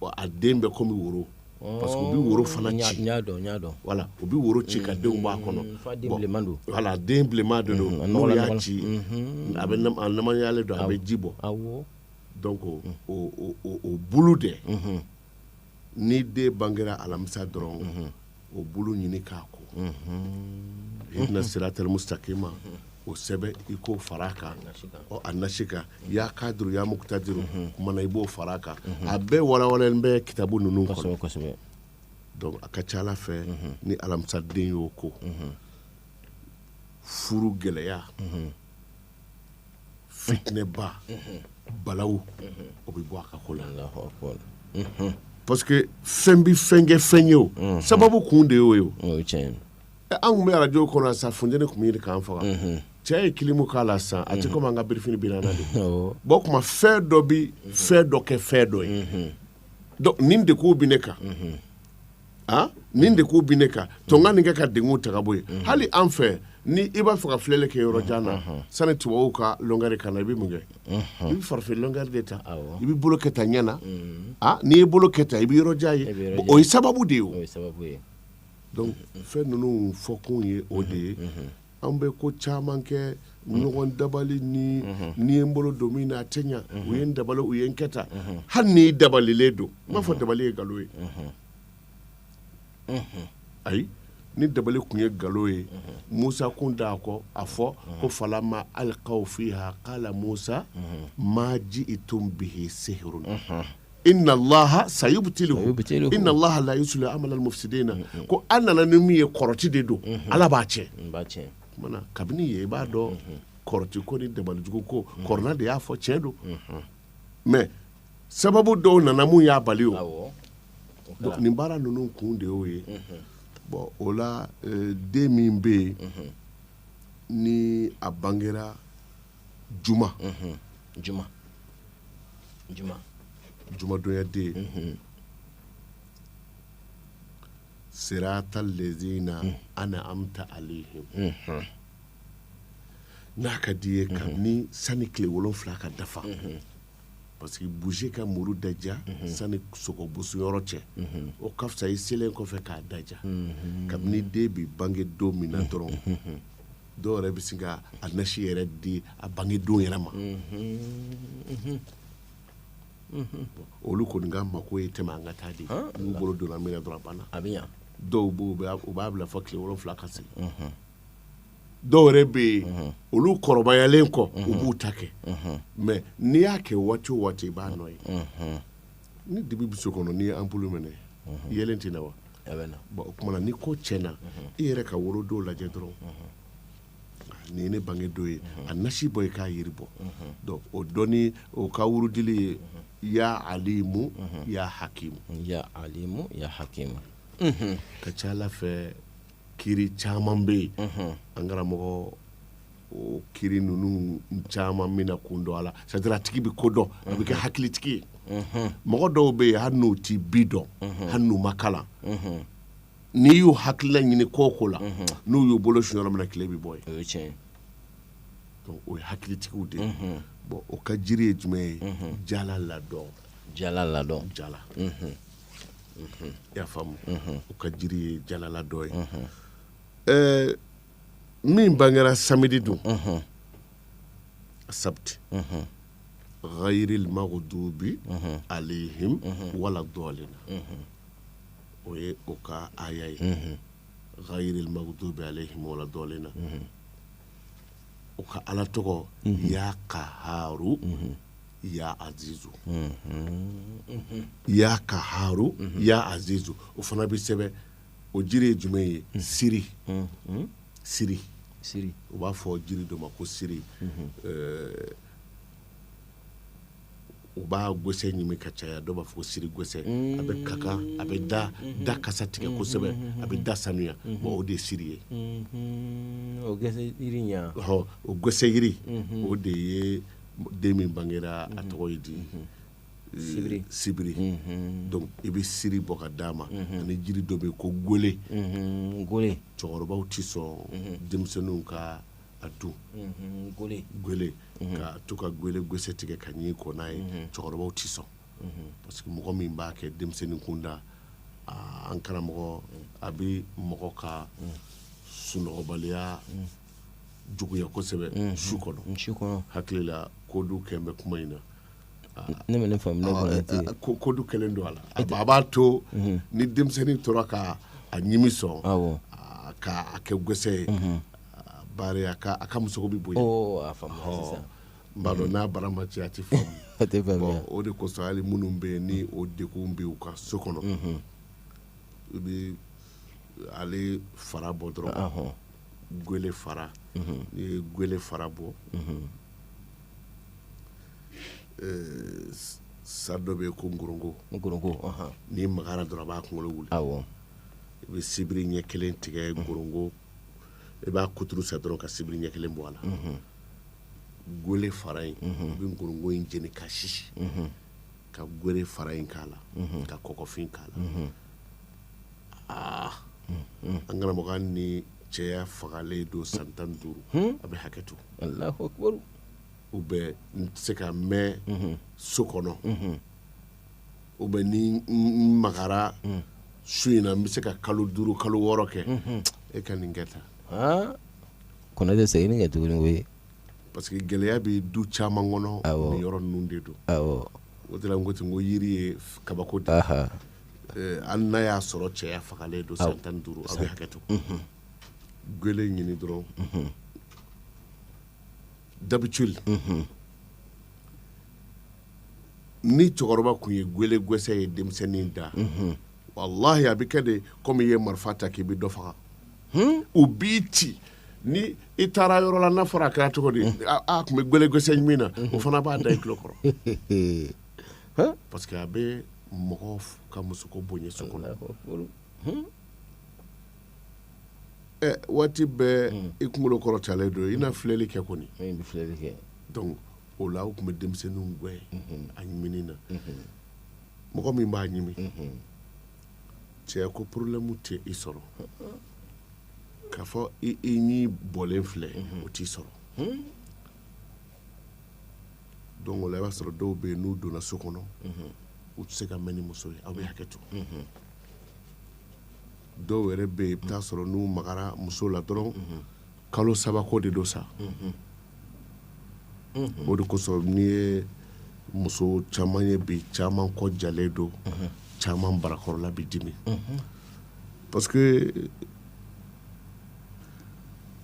wa a den bɛ komi woro parce que u bɛ woro fana ci voilà u bɛ woro ci ka denw b'a kɔnɔ voilà den bilenman de don n'o y'a ci a namayalen don a bɛ ji bɔ donc o bulu de ni den bangera alamisa dɔrɔn o bulu ɲini k'a ko ihdina siratal mustaqima o sɛbɛn i k'o far'a kan a nasi kan ya kadiru ya muqtadiru kumana i b'o far'a kan a bɛɛ walawalalen bɛ kitabu ninnu kɔnɔ donc a ka ca ala fɛ ni alamisaden y'o ko furu gɛlɛya fitinɛba balawu o bɛ bɔ a ka ko la parce que fɛn bɛ fɛn kɛ fɛn ye o sababu kun de y'o ye o o ye tiɲɛ ye Ɛ, an tun bɛ arajo kɔnɔ yan sa funteni tun bɛ ɲini k'an faga cɛ ye kilimu k'a la sisan a tɛ komi an ka birifini biri an na de Awɔ. bɔn o tuma fɛn dɔ bɛ fɛn dɔ kɛ fɛn dɔ ye donc nin degun bɛ ne kan nin degun bi ne kan to n ka nin kɛ ka degun ta ka bɔ yen hali an fɛ ni i b'a fɛ ka filɛli kɛ yɔrɔ jan na sani tubabu ka lɔngɛri ka na i bɛ mun kɛ i bɛ farafin lɔngɛri de ta i bɛ bolo kɛ tan ɲɛ na n'i ye bolo kɛ tan i bɛ yɔrɔ jan ye o ye sababu de ye o donc fɛn ninnu fɔkun ye o de ye an bɛ ko caman kɛ ɲɔgɔn dabali ni n ye n bolo don min na a tɛ ɲɛ u ye n dabali u ye n kɛ tan hali n'i dabalilen don n m'a fɔ dabali ye nkalon ye ayi ni dabali tun ye nkalon ye musa kun d'a kɔ a fɔ ko falama alikaw fiha kala musa ma jiitum bihi sihrun inna laha sayubtiluhu inna laha la yuslihu amala almufsidina ko aw nana ni min ye kɔrɔti de don ala b'a tiɲɛ kabini ye i b'a dɔn kɔrɔti ko ni dabalijugu ko kuranɛ de y'a fɔ tiɲɛ don mais sababu dɔw nana min y'a bali o nin baara ninnu kun de y'o ye bɔn o la den min bɛ yen ni a bangera juma juma juma jumadonyaden sirata lezina ana amta alihim n'a ka di i ye kabini sani tile wolonfila ka dafa parce que boucher ka muru daja sani sogo boso yɔrɔ cɛ o ka fisa i selen kɔfɛ k'a daja kabini den bi bange don min na dɔrɔn dɔw yɛrɛ bɛ sin ka a nasi yɛrɛ di a bange don yɛrɛ ma olu kɔni ka mako ye tɛmɛ an ka taa de n'u bolo donna min na dɔrɔn a banna a bɛ ɲa dɔw b'o u b'a bila fɔ tile wolonwula ka se dɔw yɛrɛ bɛ yen olu kɔrɔbayalen kɔ u b'u ta kɛ mais n'i y'a kɛ waati o waati i b'a nɔ ye ni dibi bɛ so kɔnɔ n'i ye ampulu mɛnɛ yeelen tɛ na wa o tuma na ni ko tiɲɛna i yɛrɛ ka wolodon lajɛ dɔrɔn nin ye ne bange don ye a nasi bɔ i k'a yiri bɔ o don o ka wurudili ye ya alimu ya hakimu ya alimu ya hakimu ka ca ala fɛ kiri caman bɛ yen an karamɔgɔ o kiri ninnu caman min na kun dɔn a la c'est-à-dire a tigi bɛ ko dɔn a bɛ kɛ hakilitigi ye mɔgɔ dɔw bɛ yen hali n'u tɛ bi dɔn hali n'u ma kalan n'i y'u hakilila ɲini ko o ko la n'u y'u bolo su yɔrɔ min tile bɛ bɔ yen o ye hakilitigiw de ye bon o ka jiri ye jumɛn ye jala ladɔn jala ladɔn jala y'a faamu o ka jiri ye jala ladɔn ye min bangera samedi don asabti ghayril maghdubi alayhim wala dɔlina o ye o ka aya ye ghayril maghdubi alayhim wala dɔlina o ka ala tɔgɔ ya kaharu ya azizu ya kaharu ya azizu o fana bɛ sɛbɛn o jiri ye jumɛn ye siri siri siri u b'a fɔ jiri dɔ ma ko siri u b'a gɛsɛ ɲimi ka caya dɔw b'a fɔ siri gɛsɛ a bɛ kakan a bɛ da da kasa tigɛ kosɛbɛ a bɛ da sanuya bon o de ye siri ye o gɛsɛ jiri ɲɛ ɔ o gɛsɛ jiri o de ye den min bangera a tɔgɔ ye di sibiri sibiri donc i bɛ siri bɔ ka d'a ma ani jiri dɔ bɛ yen ko gole gole cɛkɔrɔbaw tɛ sɔn denmisɛnninw ka a dun gole gole ka to ka gole gɛsɛ tigɛ ka ɲin ko n'a ye cɛkɔrɔbaw tɛ sɔn parce que mɔgɔ min b'a kɛ denmisɛnnin kunda aa, an karamɔgɔ a bɛ mɔgɔ ka sunɔgɔbaliya juguya kosɛbɛ su kɔnɔ su kɔnɔ hakili la kodu kɛn bɛ kuma in na ne ma ne faamu kodu kɛlen don a la a b'a to mhm. ni denmisɛnnin tora ka a ɲimi sɔn k'a kɛ gɛsɛ ye mhm. bari a ka musoko bɛ bonya n b'a dɔn n'a bara ma ci a tɛ faamu o de kosɔn hali minnu bɛ yen ni o degun bɛ u ka so kɔnɔ mhm. i bɛ ale fara bɔ dɔrɔn gele fara n'i ye gele fara bɔ Sa dɔ bɛ yen ko ngorongo ngorongo n'i magara dɔrɔn a b'a kunkolo wuli i bɛ sibiri ɲɛ kelen tigɛ ngorongo i b'a kuturu sa dɔrɔn ka sibiri ɲɛ kelen bɔ a la gole fara in i bɛ ngorongo in jeni ka sisi ka gole fara in k'a la ka kɔkɔfin k'a la aa an karamɔgɔ ni cɛya fagalen don san tan duuru a bɛ hakɛ to u bɛ n tɛ se ka mɛn so kɔnɔ u bɛ ni n magara su in na n bɛ se ka kalo duuru kalo wɔɔrɔ kɛ e ka nin kɛ tan Aa, kɔnɔ bɛ segin ni kɛ tuguni o ye parce que gɛlɛya bɛ du caman kɔnɔ Awɔ. nin yɔrɔ ninnu de don awɔ o de la n ko ten n ko yiri ye f- kabako de ye. aha Eh, hali n'a y'a sɔrɔ cɛya fagalen don san tan ni duuru a bɛ hakɛ to gwele ɲini dɔrɔn d'habitude ni cɛkɔrɔba tun ye gwele gwɛsɛ ye denmisɛnnin da walahi a bɛ kɛ de komi i ye marifa ta k'i bɛ dɔ faga u b'i ci ni i taara yɔrɔ la n'a fɔra a kɛra cogo di a a tun bɛ gwele gwɛsɛ ɲimi na o fana b'a da i tulo kɔrɔ parce que a bɛ mɔgɔ f- ka musoko bonya so kɔnɔ waati bɛɛ hmm. i kunkolo kɔrɔtalen don i na filɛli kɛ kɔni o la u tun bɛ denmisɛnninw gɛn hmm. a ɲimini na hmm. mɔgɔ min b'a ɲimi cɛ ko porolɛmu tɛ i sɔrɔ k'a fɔ i ɲin bɔlen filɛ o t'i sɔrɔ donc o la i b'a sɔrɔ dɔw bɛ yen n'u donna so kɔnɔ u tɛ se ka mɛn ni muso ye aw bɛ hakɛ to dɔw yɛrɛ bɛ yen i bɛ taa sɔrɔ n'u magara muso la dɔrɔn kalo saba ko de don sa o de kosɔn n'i ye muso caman ye bi caman kɔ jalen don caman barakɔrɔla bɛ dimi parce que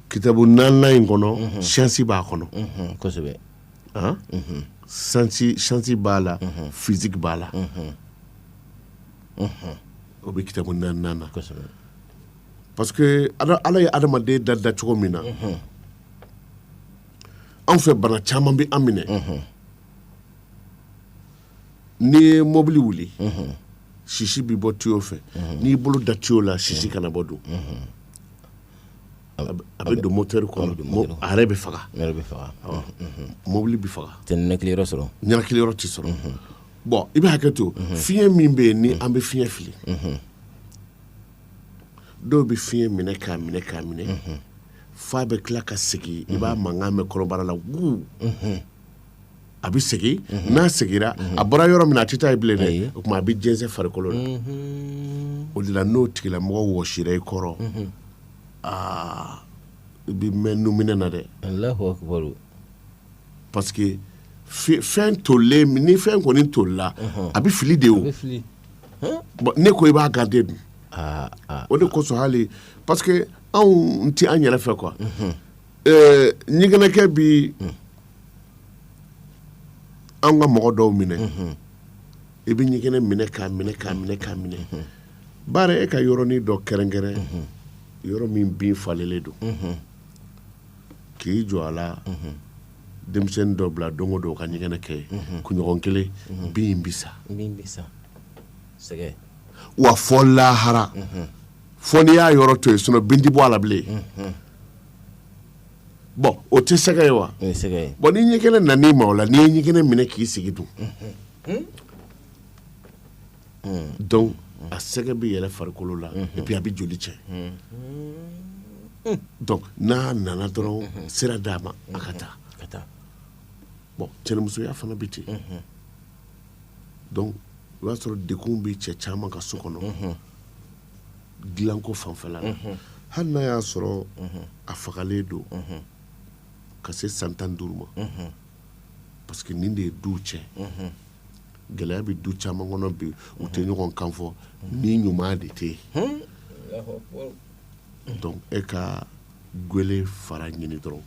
kitabu naaninan in kɔnɔ science b'a kɔnɔ kosɛbɛ an science b'a la physique b'a la o bɛ kitabu na parce que ala ye adamaden da da cogo min na anw fɛ bana caman bɛ an minɛ n'i ye mɔbili wuli sisi bɛ bɔ tuyo fɛ n'i bolo da tuyo la sisi kana bɔ donc a bɛ don motɛri kɔnɔ a yɛrɛ bɛ faga bɛ faga mɔbili bɛ faga tɛ ninakiliyɔrɔ sɔrɔ ninakiliyɔrɔ tɛ sɔrɔ bɔn i bɛ hakɛ to mhm. fiɲɛ min bɛ yen ni mhm. an bɛ fiɲɛ fili mhm. dɔw bɛ fiɲɛ minɛ k'a minɛ k'a minɛ f'a bɛ tila ka segin i b'a mankan mɛn kɔnɔbara la wuu a bɛ segin n'a seginna a bɔra yɔrɔ min na a tɛ taa yen bilen dɛ o tuma a bɛ jɛnsɛn farikolo la o de la n'o tigilamɔgɔ wɔsira i kɔrɔ aa i bɛ mɛn nunminɛ na dɛ Parce que fɛn tolilen ni fɛn kɔni tolila a bɛ fili de ne ko i b'a garder dun o de kosɔn hali parce que anw tɛ an yɛrɛ fɛ quoi ɲɛgɛnɛkɛ bɛ an ka mɔgɔ dɔw minɛ i bɛ ɲɛgɛnɛ minɛ k'a minɛ bari e ka yɔrɔnin dɔ kɛrɛnkɛrɛn yɔrɔ min bin falenlen don k'i jɔ a la denmisɛnnin dɔ bila don o don ka ɲɛgɛnɛ kɛ kunɲɔgɔn kelen bin bɛ sa wa fɔ lahara fɔ n'i y'a yɔrɔ to yen sinon bin tɛ bɔ a la bilen bon o tɛ sɛgɛ ye wa bon ni ɲɛgɛnɛ nan'i ma o la n'i ye ɲɛgɛnɛ minɛ k'i sigi dun a sɛgɛ bɛ yɛlɛ farikolo la et puis a bɛ joli cɛ n'a nana dɔrɔn sira d'a ma a ka taa bon cɛnimusoya fana bɛ ten donc o y'a sɔrɔ dekun bɛ cɛ caman ka so kɔnɔ dilanko fanfɛla la hali n'a y'a sɔrɔ a fagalen don ka se san tan duuru ma parce que nin de ye du cɛ gɛlɛya bɛ du caman kɔnɔ bi u tɛ ɲɔgɔn kan fɔ ni ɲuman de tɛ yen donc e ka gwele fara ɲini dɔrɔn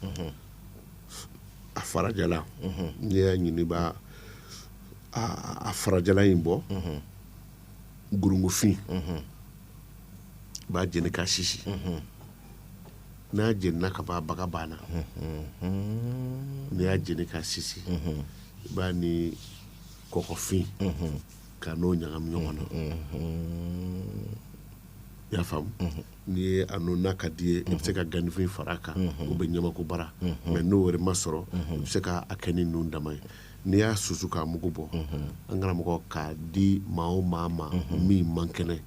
a farajala n'i y'a ɲini b'a a a farajala in bɔ gurungufin b'a jeni k'a sisi n'a jenina ka ban baga banna n'i y'a jeni k'a sisi i b'a ni kɔkɔfin ka n'o ɲagami ɲɔgɔn na i y'a faamu n'i ye a n'o n'a ka di i ye i bɛ se ka ganifin fara a kan o bɛ ɲamakubara mais n'o wɛrɛ ma sɔrɔ i bɛ se k'a kɛ ni nun dama ye n'i y'a susu k'a mugu bɔ an karamɔgɔ k'a di maa o maa ma min man kɛnɛ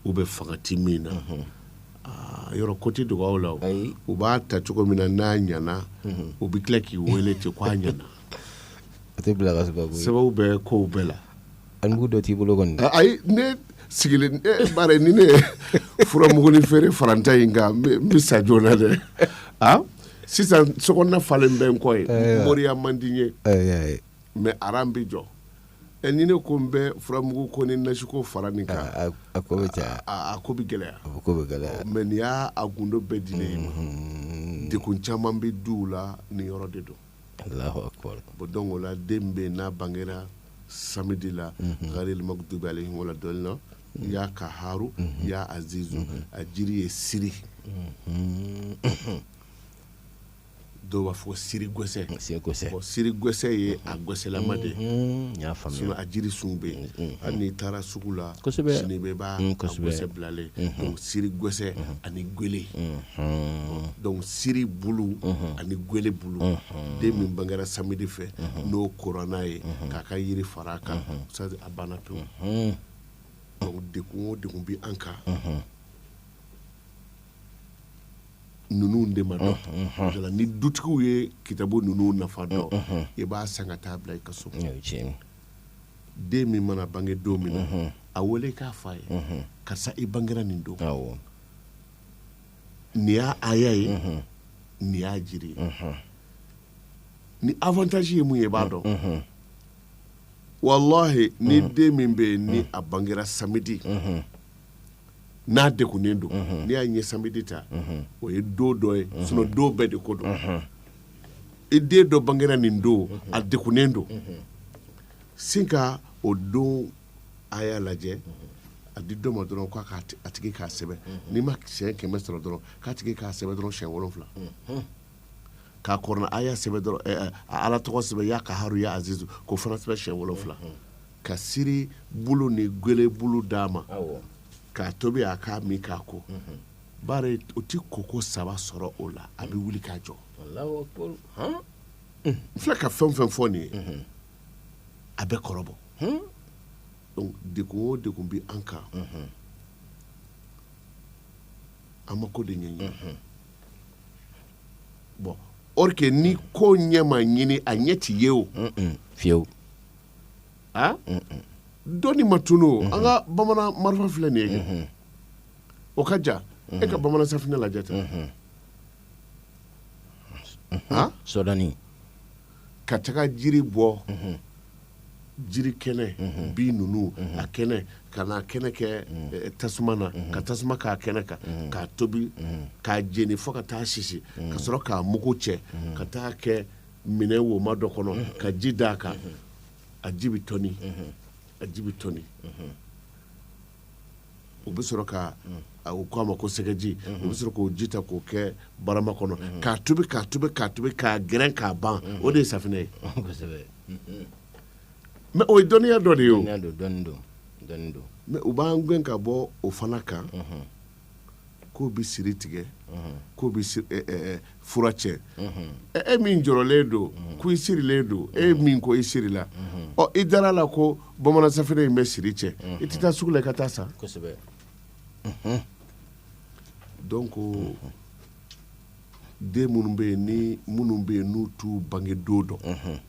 u bɛ fangati min na Yɔrɔ ko tɛ dogo aw la u b'a ta cogo min na n'a ɲana u bɛ tila k'i weele ten ko a ɲana sababu bɛ ko bɛɛ la a mugu dɔ t'i bolo kɔni ayi ne sigilen bari ni ne ye furamugunin feere fara n ta in kan n bɛ sa joona dɛ sisan sokɔnɔna falen bɛ n kɔ ye moriya man di n ye mais aran bɛ jɔ ɛ ni ne ko n bɛ furamugu ko ni nasiko fara nin kan a ko bɛ gɛlɛya mais nin y'a gundo bɛɛ dilen i ma mm-hmm. dekun caman bɛ du la nin yɔrɔ de don bon donc o la den bɛ n'a bangera samedi la mm-hmm. gharil maghdubi alayhim wala dɔɔlina ya kaharu mm-hmm. ya azizu a jiri ye siri dɔw b'a fɔ siri gwɛsɛ siri gwɛsɛ ye a gwɛsɛlama de a jiri sun bɛ yen hali n'i taara sugu la sini bɛɛ b'a gwɛsɛ bilalen siri gwɛsɛ ani gwele donc siri bulu ani gwele bulu den min bangera samedi fɛ n'o kurana ye k'a ka yiri fara a kan a banna pewu donc degun o degun bɛ an kan ninnu de ma dɔn ni dutigiw ye kitabu ninnu nafa dɔn i b'a san ka taa bila i ka so den min mana bange don min na a wele k'a f'a ye karisa i bangera nin don nin y'a aya ye nin y'a jiri ye ni avantage ye mun ye i b'a dɔn wala ni den min bɛ yen ni a bangera samedi n'a degunnen don n'i y'a ɲɛ samedi ta o ye don dɔ ye sinon don bɛɛ de ko don i den dɔ bangera nin don a degunnen don sin ka o don aya lajɛ a di dɔ ma dɔrɔn k'a tigi k'a sɛbɛn n'i ma siɲɛ kɛmɛ sɔrɔ dɔrɔn k'a tigi k'a sɛbɛn dɔrɔn siɲɛ wolonfila k'a kurana aya sɛbɛn dɔrɔn eh, eh, a ala tɔgɔ sɛbɛn ya kaharu ya azizu k'o fana sɛbɛn siɲɛ wolonfila ka siri bulu ni gwele bulu d'a ma awɔ k'a tobi a k'a min k'a ko bari o ti koko saba sɔrɔ o la a bɛ wuli k'a jɔ alahu akbar han n filɛ ka fɛn o fɛn fɔ nin ye a bɛ kɔrɔbɔ hun donc degun o degun bɛ an kan an ma ko de ɲɛɲini bon or que ni ko ɲɛ ma ɲini a ɲɛ tɛ ye o fiyewu a dɔnni ma tunu o an ka bamanan marifa filɛ nin ye kɛ o ka ja e ka bamanan safinɛ lajɛ tan a sɔdɔni ka taga jiri bɔ jiri kɛnɛ bin ninnu a kɛnɛ ka n'a kɛnɛ kɛ eh, tasuma na ka tasuma k'a kɛnɛ kan k'a tobi k'a jeni fo ka taa sisi ka sɔrɔ k'a mugu cɛ ka taa kɛ minɛn woma dɔ kɔnɔ ka ji d'a kan a ji bɛ tɔni a ji bɛ tɔni u bɛ sɔrɔ ka u ko a ma ko sɛgɛji u bɛ sɔrɔ k'o ji ta k'o kɛ barama kɔnɔ k'a tobi k'a tobi k'a tobi k'a gɛrɛn k'a ban o de ye safinɛ ye mais o ye dɔnniya dɔ de ye o mais u b'an gɛn ka bɔ o fana kan k'o bɛ siri tigɛ k'o bɛ fura cɛ e min jɔrɔlen don ko i sirilen don e min ko i sirila ɔ i dara la ko bamanan safinɛ in bɛ siri cɛ i tɛ taa sugu la i ka taa san donc den minnu bɛ yen ni minnu bɛ yen n'u t'u bange don dɔn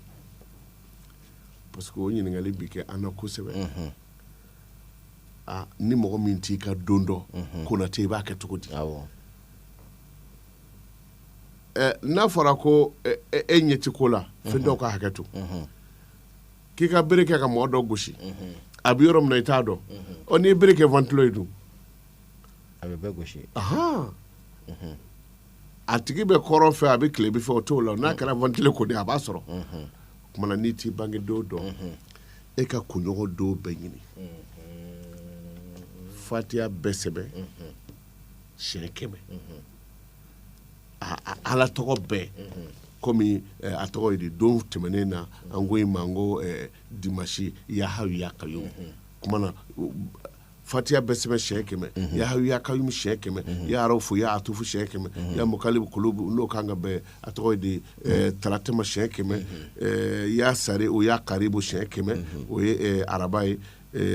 parce que o ɲininkali bɛ kɛ an na kosɛbɛ ni mɔgɔ min t'i ka don dɔn konatɛ i b'a kɛ cogo di n'a fɔra ko e ɲɛ ti ko la fiyentɔw ka hakɛ to k'i ka bere kɛ ka mɔgɔ dɔ gosi a bɛ yɔrɔ min na i t'a dɔn ɔ n'i ye bere kɛ ventilo ye dun a bɛ bɛɛ gosi a tigi bɛ kɔrɔn fɛ a bɛ tilebin fɛ o t'o la n'a kɛra ventilo ko de a b'a sɔrɔ o tuma na n'i t'i bange don dɔn e ka kunɲɔgɔn don bɛɛ ɲini fatiya bɛ sɛbɛn siɲɛ kɛmɛ a a- ala tɔgɔ bɛɛ komi eh, a tɔgɔ ye di don tɛmɛnen na an ko in ma n ko eh, dimasi ya hayu ya kayumu kuma na u- fatiya bɛ sɛbɛn siyɛn kɛmɛ mhm. ya hayu ya kayumu siyɛn kɛmɛ mhm. ya raufu ya atufu siyɛn kɛmɛ mhm. ya mukalibu kulubu n'o kan ka bɛn a tɔgɔ ye di eh, talata ma siyɛn kɛmɛ eh, ya sariyu ya karibu siyɛn kɛmɛ o ye eh, araba ye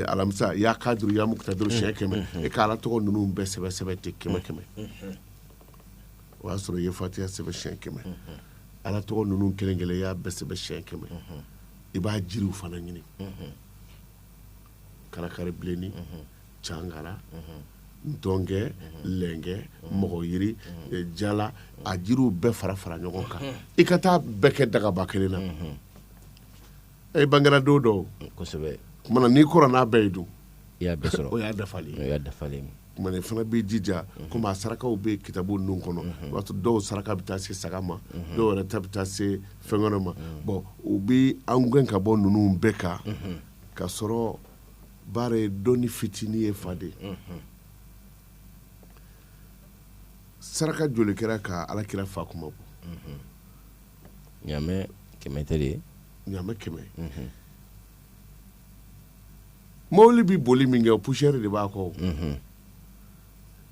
alamisa ya kaduru ya mukutadiru siyɛn kɛmɛ e ka ala tɔgɔ ninnu bɛɛ sɛbɛn sɛbɛn ten kɛmɛ kɛmɛ o y'a sɔrɔ i ye fatiya sɛbɛn siyɛn kɛmɛ ala tɔgɔ ninnu kelen kelen y'a bɛɛ sɛbɛn siyɛn kɛmɛ i b'a jiriw fana ɲini karakari bilenni cangara ntɔnkɛ lɛnkɛ mɔgɔyiri eh, jala a jiriw bɛɛ fara fara ɲɔgɔn kan i ka taa bɛɛ kɛ dagaba kelen na e bangera don dɔw kosɛbɛ kumana n'i kɔrɔ n'a bɛɛ ye dun i y'a bɛɛ sɔrɔ o y'a dafalen o y'a dafalen ye. kumana i fana b'i jija komi a sarakaw bɛ kitabu ninnu kɔnɔ o b'a sɔrɔ dɔw saraka bɛ taa se saga ma dɔw yɛrɛ ta bɛ taa se fɛn wɛrɛ ma bɔn u bɛ an gɛn ka bɔ ninnu bɛɛ kan ka sɔrɔ baara ye dɔnni fitinin ye fa de saraka joli kɛra ka ala kira fa kunmabɔ ɲamɛ kɛmɛ tɛ de ye ɲamɛ kɛmɛ mobili bɛ boli min kɛ o poussière de b'a kɔ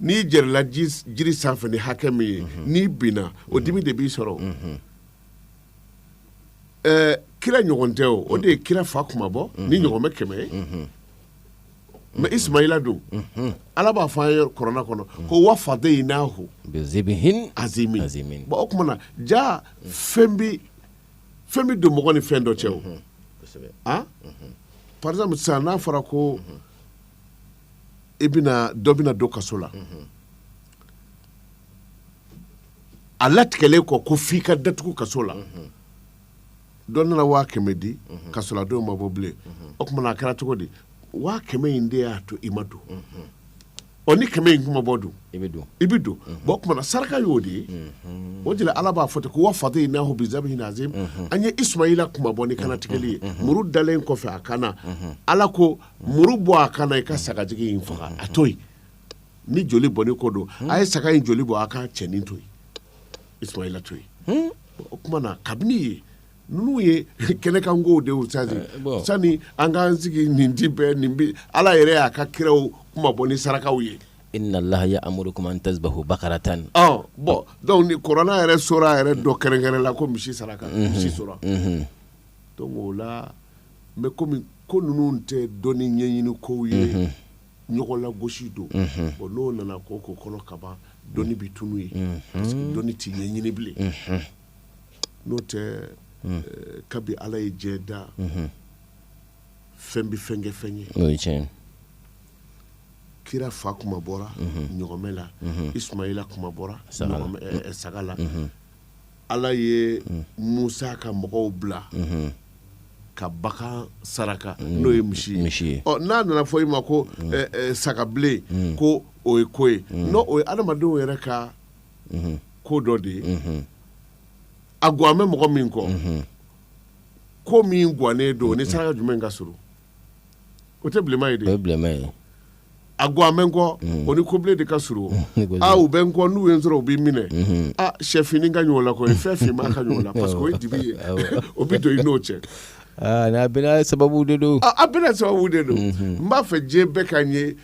n'i jɛrɛla jiri sanfɛ ni hakɛ min ye n'i binna o dimi de b'i sɔrɔ ɛɛ kira ɲɔgɔn tɛ o o de ye kira fa kunmabɔ ni ɲɔgɔmɛ kɛmɛ ye mais ismaila dun ala b'a fɔ an ye kurana kɔnɔ ko wa fadaynahu bizibihin azimi Azimi. bon o tuma na ja fɛn bi fɛn bi don mɔgɔ ni fɛn dɔ cɛ o Kosɛbɛ. ah par exemple sisan n'a fɔra ko i bɛna dɔ bɛna don kaso la a latigɛlen kɔ ko f'i ka datugu kaso la dɔ nana waa kɛmɛ di kaso la don ma bɔ bilen o tuma na a kɛra cogo di waa kɛmɛ in de y'a to i ma don ɔ ni kɛmɛ in tun ma bɔ dun i bɛ don i bɛ don bon o tuma na saraka y'o de ye o de la ala b'a fɔ ten ko wa fadaynahu bizabihin azim an ye isumayila kunmabɔ ni kannatigɛli ye muru dalen kɔfɛ a kan na ala ko muru bɔ a kan na i ka sagajigi in faga a to yen ni joli bɔnni ko don hmm. a ye saga in joli bɔ a ka cɛnin to yen isumayila to yen hmm. o tuma na kabini ye ninnu ye kɛnɛkankow de ye sani eh, sani an k'an sigi nin di bɛɛ nin bi ala yɛrɛ y'a ka kiraw kunmabɔ ni sarakaw ye inna allaha ya'murukum an tazbahu bakaratan ɔ bon donc ni kurana yɛrɛ sura yɛrɛ dɔ kɛrɛnkɛrɛnna ko misi saraka mhm. misi sura mhm. donc o la mais komi ko ninnu tɛ dɔnni ɲɛɲini kow ye mhm. ɲɔgɔn lagosi don o n'o nana ko ko kɔnɔ kaban dɔnni bɛ tunun yen dɔnni tɛ ɲɛɲini bilen n'o tɛ eh, kabi ala ye diɲɛ da fɛn bɛ fɛn kɛ fɛn ye n'o ye tiɲɛ kira fa kunmabɔra ɲɔgɔmɛ la isumayila kunmabɔra saga la. ɲɔgɔnmɛ- eh, eh, saga la ala ye musa ka mɔgɔw bila ka bagan saraka n'o ye misi misi ye n'a nana fɔ i ma ko sagabilen ko o ye ko ye non o ye adamadenw yɛrɛ ka ko dɔ de ye a gan bɛ mɔgɔ min kɔ ko min gannen don ni saraka jumɛn ka s o tɛ bilenman ye de o ye bilenman ye a gan bɛ n kɔ o ni kobilen de ka surun u bɛ n kɔ n'u ye n sɔrɔ u bɛ n minɛ aa shɛfini ka ɲɔgɔn la ko fɛn finman ka ɲɔgɔn la parce que o ye dibi ye o bɛ don i n'o cɛ bɛna sababu de don a bɛna sababu de don n b'a fɛ diɲɛ bɛɛ ka ye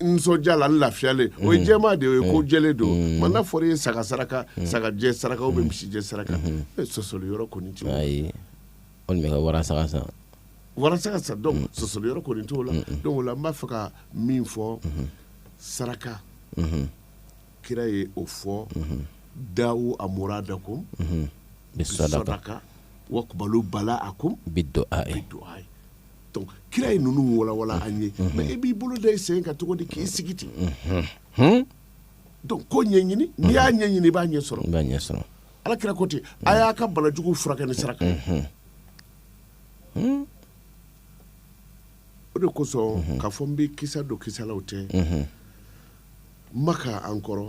nisɔndiya la n lafiyalen o ye jɛman de ye o ye ko jɛlen don mais n'a fɔra i ye saga saraka saga jɛ saraka ou bien misi jɛ saraka sɔsɔli yɔrɔ kɔni tɛ walima ka wara sa san wala saga san dɔnku sɔsɔli yɔrɔ kɔni t'o la dɔnku o la n b'a fɛ ka min fɔ saraka kira ye o fɔ dawu maradakum bi sadaka wakbalu balaakum bi duayi kira ye ninnu walawala an ye mɛ e b'i bolo da i sen kan cogo di k'i sigi ten ko ɲɛɲini n'i y'a ɲɛɲini i b'a ɲɛ sɔrɔ ala kira ko ten a y'a ka banajugu furakɛ ni saraka o de kosɔn k'a fɔ n bɛ kisa dɔ kisalaw tɛ maka an kɔrɔ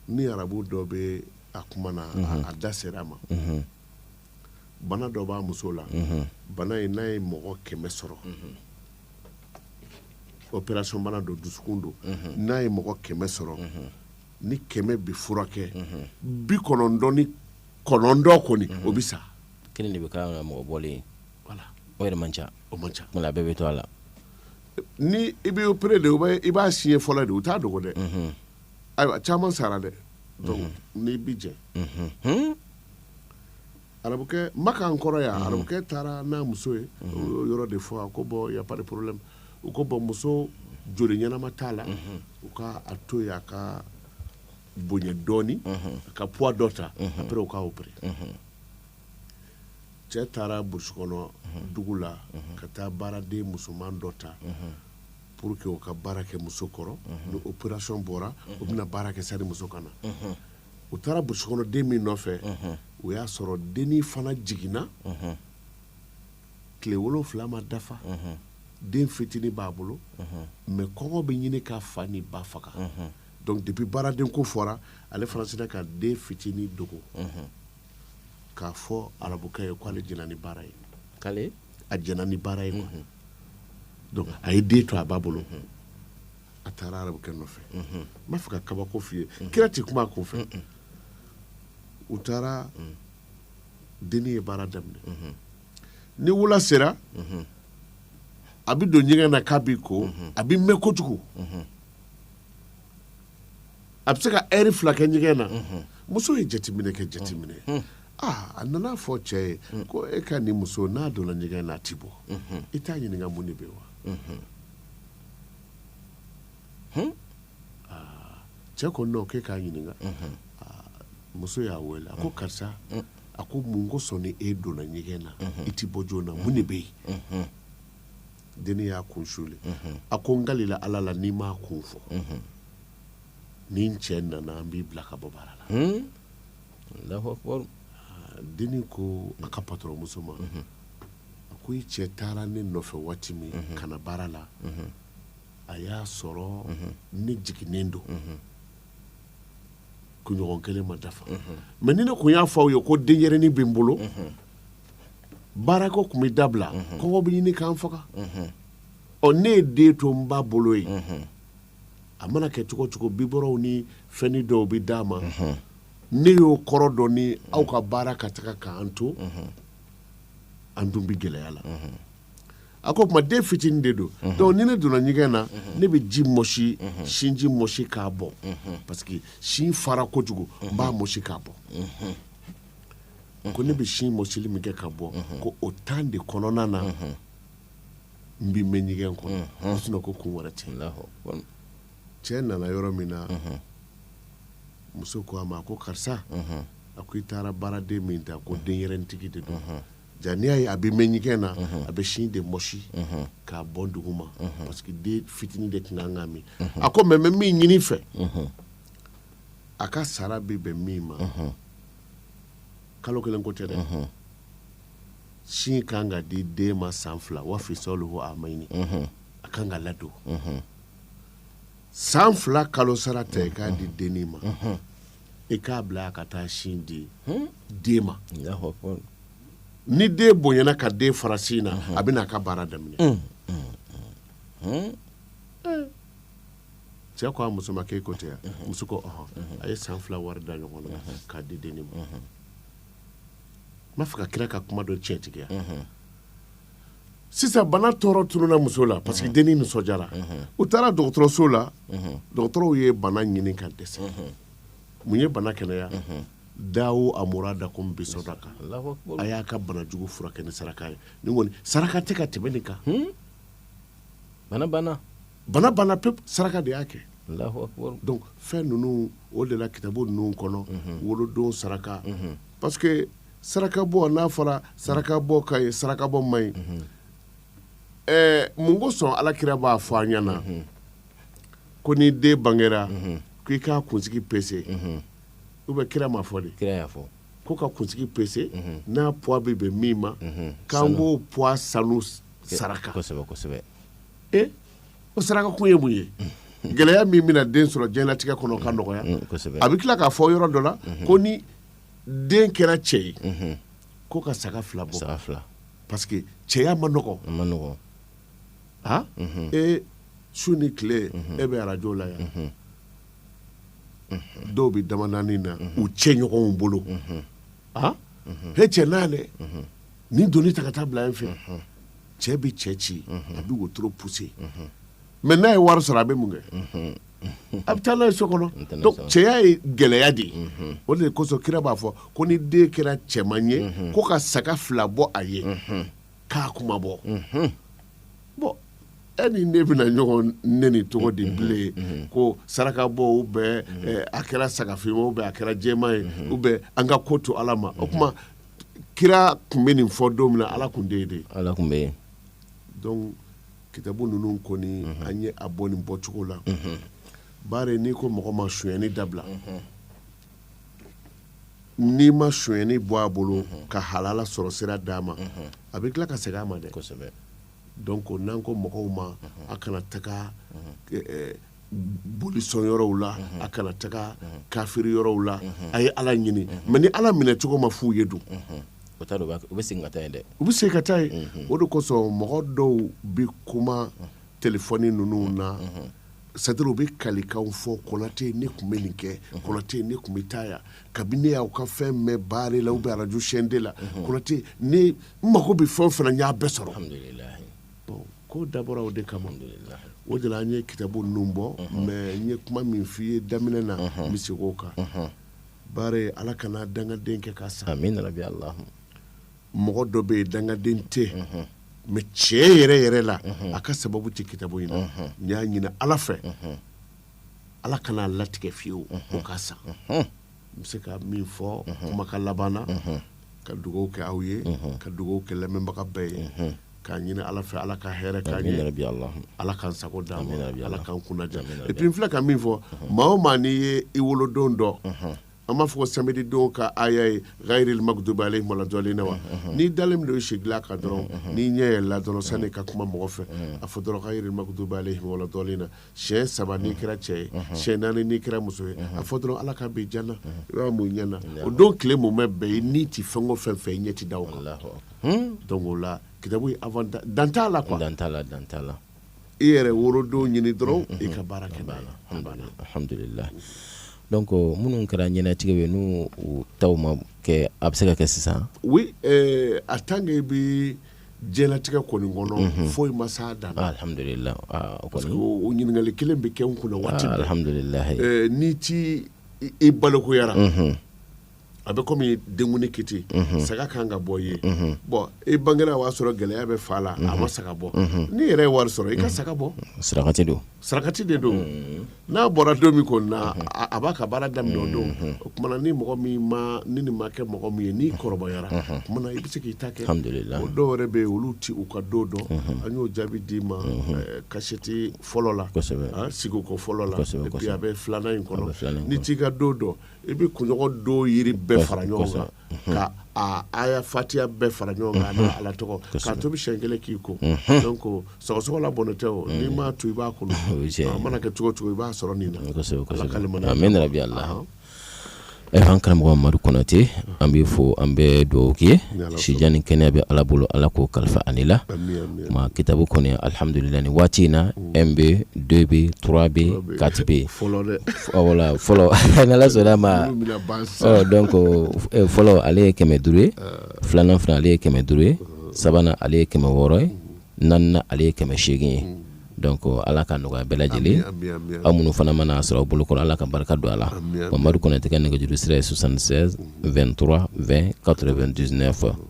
ni arabu dɔ bɛ a kuma na a da sera a ma bana dɔ b'a muso la bana in n'a ye mɔgɔ kɛmɛ sɔrɔ opération bana don dusukun don n'a ye mɔgɔ kɛmɛ sɔrɔ ni kɛmɛ bɛ furakɛ bi kɔnɔntɔn ni kɔnɔntɔn kɔni o bɛ sa kelen de bɛ k'a la mɔgɔ bɔlen o yɛrɛ man ca o man ca bɛɛ bɛ to a la ni i bɛ opéré de i b'a siɲɛ fɔlɔ de u t'a dogo dɛ ayiwa caman sara dɛ dɔnku n'i bi jɛn arabukɛ maka an kɔrɔ yan arabukɛ taara n'a muso ye o yɔrɔ de fɔ a ko bɔn y a pas de problème u ko bɔn muso joli ɲɛnama t'a la u ka a to yen a ka bonya dɔɔnin a ka poids dɔ ta après u k'a opéré cɛ taara burusikɔnɔ dugu la ka taa baaraden musoman dɔ ta pour que u ka baara kɛ muso kɔrɔ ni opération bɔra o bɛna baara kɛ sani muso ka na u taara burusikɔnɔ den min nɔfɛ o y'a sɔrɔ dennin fana jiginna tile wolonfila ma dafa den fitinin b'a bolo mɛ kɔngɔ bɛ ɲini k'a fa ni ba faga dɔnku depi baaraden ko fɔra ale fana sinna ka den fitinin dogo k'a fɔ arabukɛ ye k'ale jɛnna ni baara ye a jɛnna ni baara ye a ye den to a b'a bolo a taara arabukɛ nɔfɛ n b'a fɛ ka kabako f'i ye kira tɛ kuma a kun fɛ u taara denni ye baara daminɛ ni wula sera a bɛ don ɲɛgɛn na k'a b'i ko a bɛ mɛn kojugu a bɛ se ka ɛri fila kɛ ɲɛgɛn na muso ye jateminɛ kɛ jateminɛ aa a nana a fɔ cɛ ye ko e ka nin muso n'a donna ɲɛgɛn na a ti bɔ i t'a ɲininka mun de bɛ wa cɛ ko non k'e k'a ɲininka muso y'a weele a ko karisa a ko mun kosɔn ni e donna ɲɛgɛn na i tɛ bɔ joona mun de bɛ yen denni y'a kun suli a ko n kalila ala la n'i m'a kun fɔ ni n cɛ nana an b'i bila ka bɔ baara la dennin ko a ka patɔrɔnmuso ma a ko i cɛ taara ne nɔfɛ waati min ka na baara la a y'a sɔrɔ ne jiginnen don kunɲɔgɔn kelen ma dafa mais ni ne kun y'a fɔ aw ye ko denyɛrɛnin bɛ n bolo baara ko tun bɛ dabila kɔngɔ bɛ ɲini k'an faga ɔ ne ye den to n ba bolo ye a mana kɛ cogo cogo bibɔrɔnw ni fɛnnin dɔw bɛ d'a ma ne y'o kɔrɔ dɔn ni aw ka baara ka taga k'an to an dun bɛ gɛlɛya la a ko o tuma den fitinin de don donc ni ne donna ɲɛgɛn na ne bɛ ji mɔsi sinji mɔsi k'a bɔ parce que sin fara kojugu n b'a mɔsi k'a bɔ ko ne bɛ sin mɔsili min kɛ ka bɔ ko o temps de kɔnɔna na n bɛ mɛn ɲɛgɛn kɔnɔ sinon ko kun wɛrɛ tɛ cɛ nana yɔrɔ min na muso ko a ma ko karisa a ko i taara baaraden min ta ko denyɛrɛnintigi de don ja n'i y'a ye a bɛ mɛn ɲɛgɛn na a bɛ sin de mɔsi k'a bɔ dugu ma parce que den fitinin de tun kan k'a min a ko mais n bɛ min ɲini i fɛ a ka sara bɛ bɛn min ma kalo kelen ko tɛ dɛ sin ka kan ka di den ma san fila wa fisaluhu amayini a ka kan ka ladon san fila kalo sara ta i k'a di dennin ma i k'a bila a ka taa sin di den ma ni den bonyana ka den fara sin na a bɛna a ka baara daminɛ mm, mm, mm, eh. cɛ ko a muso ma k'e ko tɛ yan muso ko a ye san fila wari da ɲɔgɔn na k'a di dennin ma b'a fɛ ka kira ka kuma dɔ tiɲɛtigiya sisan bana tɔɔrɔ tununa muso la parce que dennin nisɔndiyara u taara dɔgɔtɔrɔso la dɔgɔtɔrɔw ye bana ɲini ka dɛsɛ mun ye bana kɛnɛya dawu maradakum bisadaka a y'a ka bana jugu furakɛ ni saraka ye saraka tɛ ka tɛmɛ nin kan bana banna bana banna pewu saraka de y'a kɛ donc fɛn ninnu o de la kitabu ninnu kɔnɔ wolodon saraka parce que saraka bɔ n'a fɔra saraka bɔ ka ɲi saraka bɔ man ɲi ɛɛ mun kosɔn ala kira b'a fɔ an ɲɛ na ko ni den bangera k' i k'a kunsigi pese ou bien kira m'a fɔ de kira y'a fɔ ko ka kunsigi pese n'a poids bɛ bɛn min ma k'an b'o poids sanu saraka o saraka kun ye mun ye gɛlɛya min bɛna den sɔrɔ diɲɛlatigɛ kɔnɔ ka nɔgɔya a bɛ tila k'a fɔ yɔrɔ dɔ la ko ni den kɛra cɛ ye ko ka saga fila bɔ parce que cɛya ma nɔgɔ e su ni tile e bɛ arajo la yan dɔw bɛ Dabanaani na u cɛ ɲɔgɔnw bolo he cɛ na nin doni ta ka taa bila yen fɛ cɛ bɛ cɛ ci a bɛ wotoro pousser mais n'a ye wari sɔrɔ a bɛ mun kɛ a bɛ taa n'a ye so kɔnɔ donc cɛya ye gɛlɛya de ye o de kosɔn kira b'a fɔ ko ni den kɛra cɛman ye ko ka saga fila bɔ a ye k'a kuma bɔ bon e ni ne bɛna ɲɔgɔn neni cogo di bilen ko sarakabɔ ou bien a kɛra sagafin ou bien a kɛra jɛman ye ou bien an ka ko to ala ma o tuma kira tun bɛ nin fɔ don min na ala tun tɛ yen de ala tun bɛ yen donc kitabu ninnu kɔni mhm. an ye a bɔ nin bɔcogo la mhm. bari n'i ko mɔgɔ ma sonyani dabila mhm. n'i ma sonyani bɔ a bolo ka halala sɔrɔ sira d'a ma a bɛ tila ka segin a ma dɛ donc n'an ko mɔgɔw ma a kana taga eh, eh, bolisɔn yɔrɔw la a kana taga kafiri yɔrɔw la a ye ala ɲini mais ni ala minɛ cogo ma f'u ye don o taa u bɛ segin ka taa yen dɛ u bɛ se ka taa yen o de kosɔn mɔgɔ dɔw bɛ kuma telefɔni ninnu na c'est-à-dire u bɛ kalikan fɔ Konate ne tun bɛ nin kɛ Konate ne tun bɛ taa yan kabini ne y'aw ka fɛn mɛn baara la ou bien arajo chaîne deux la Konate ne mago bɛ fɛn o fɛn na n y'a bɛɛ sɔrɔ Ko dabɔra o de kama o de la an ye kitabu ninnu bɔ mais n ye kuma min f'i ye daminɛ na n bɛ segin o kan bari ala kan'an dangaden kɛ ka sa amina yarabi Allah mɔgɔ dɔ bɛ yen dangaden tɛ mais cɛn yɛrɛ yɛrɛ la a ka sababu tɛ kitabu in na n y'a ɲini ala fɛ ala kan'a latigɛ fewu o ka sa n bɛ se ka min fɔ kumakan laban na ka dugaw kɛ aw ye ka dugaw kɛ lamɛnbaga bɛɛ ye k'a ɲini ala fɛ ala ka hɛrɛ k'an ye yarabi Allah. ala k'an sago d'an ma Amin yarabi ala Allah. k'an kunnadiya Amin yarabi et puis n filɛ ka min fɔ maa o maa n'i ye i wolodon dɔn an b'a fɔ ko samedi don ka aya ye gayiril magdubi alayhim wala dɔlina wa n'i dalen don i sigilan kan dɔrɔn n'i ɲɛ yɛlɛla dɔrɔn sani ka kuma mɔgɔ fɛ a fɔ dɔrɔn gayiril magdubi alayhim wala dɔlina siɲɛ saba n'i kɛra cɛ ye siɲɛ naani n'i kɛra muso ye a fɔ dɔrɔn ala ka bi jana yɔrɔ mun ɲɛna o don tile mumɛ bɛɛ ye n'i ti fɛn o fɛn fɛ i ɲɛ ti da o kan donc o la kitabu dan t'a la quoi dan t'a la dan t'a la i yɛrɛ worodon ɲini dɔrɔn i ka baara kɛ n'a ye alhamdulilayi donc minnu kɛra ɲɛnatigɛ ye n'u taw ma kɛ a bɛ se ka kɛ sisan oui euh, a tant que i bi diɲɛlatigɛ kɔni kɔnɔ mhm. foyi ma s'a dan na alhamdulillah ah, parce que o ɲininkali kelen bɛ kɛ n kunna waati bɛɛ alhamdulillah eh, n'i ti i balikuyara mhm. a bɛ komi denkundi kiti mhm. saga kan ka bɔ i ye bon i bangera o y'a sɔrɔ gɛlɛya bɛ fa la a ma saga bɔ n'i yɛrɛ ye wari sɔrɔ i ka saga bɔ sarakati don sarakati de don n'a bɔra don min kɔni na a- a b'a ka baara daminɛ o don o kuma na ni mɔgɔ min ma ni nin ma kɛ mɔgɔ min ye n'i kɔrɔbayara o kuma na i bɛ se k'i ta kɛ Alhamdulillah. o dɔw yɛrɛ bɛ yen olu ti u ka don dɔn an y'o jaabi d'i ma eh, kasɛti fɔlɔ la Kosɛbɛ. ah, sigiko fɔlɔ la Kosɛbɛ, et puis kosɛbɛ. a bɛ filanan in A bɛ filanan kɔnɔ in n'i kɔnɔ. t'i ka don dɔn i bɛ kunɲɔgɔn don yiri bɛɛ fara ɲɔgɔn kan ka aya fatiya bɛɛ fara ɲɔgɔn kan n'a ala tɔgɔ k'a tobi siɲɛ kelen k'i ko ko sagasogola bɔn tɛ o n'i ma to i ba kɔnɔ a mana kɛ cogo cogo i b'a sɔrɔ nin na amina rabi ala an karamɔgɔ mamadu kɔnatɛ an b'i fo an bɛ duwawu kɛ sijan ni kɛnɛya bɛ ala bolo ala k'o kalifa an n'i la tuma kitabu kɔni alihamdulila ni waati in na mm. un B deux B trois B quatre B voilà fɔlɔ n'ala sɔnna ma donc eh, fɔlɔ ale ye kɛmɛ duuru ye ah. filanan fana ale ye kɛmɛ duuru ye ah. sabanan ale ye kɛmɛ wɔɔrɔ ye mm. naaninan ale ye kɛmɛ seegin ye mm. donc ala ka nɔgɔya bɛɛ lajɛlen aw minnu fana mana a sɔrɔ aw bolo kɔrɔ ala ka barika don a la mamadu kɔnatɛ ka nɛgɛjuru sira ye 76 23 20 99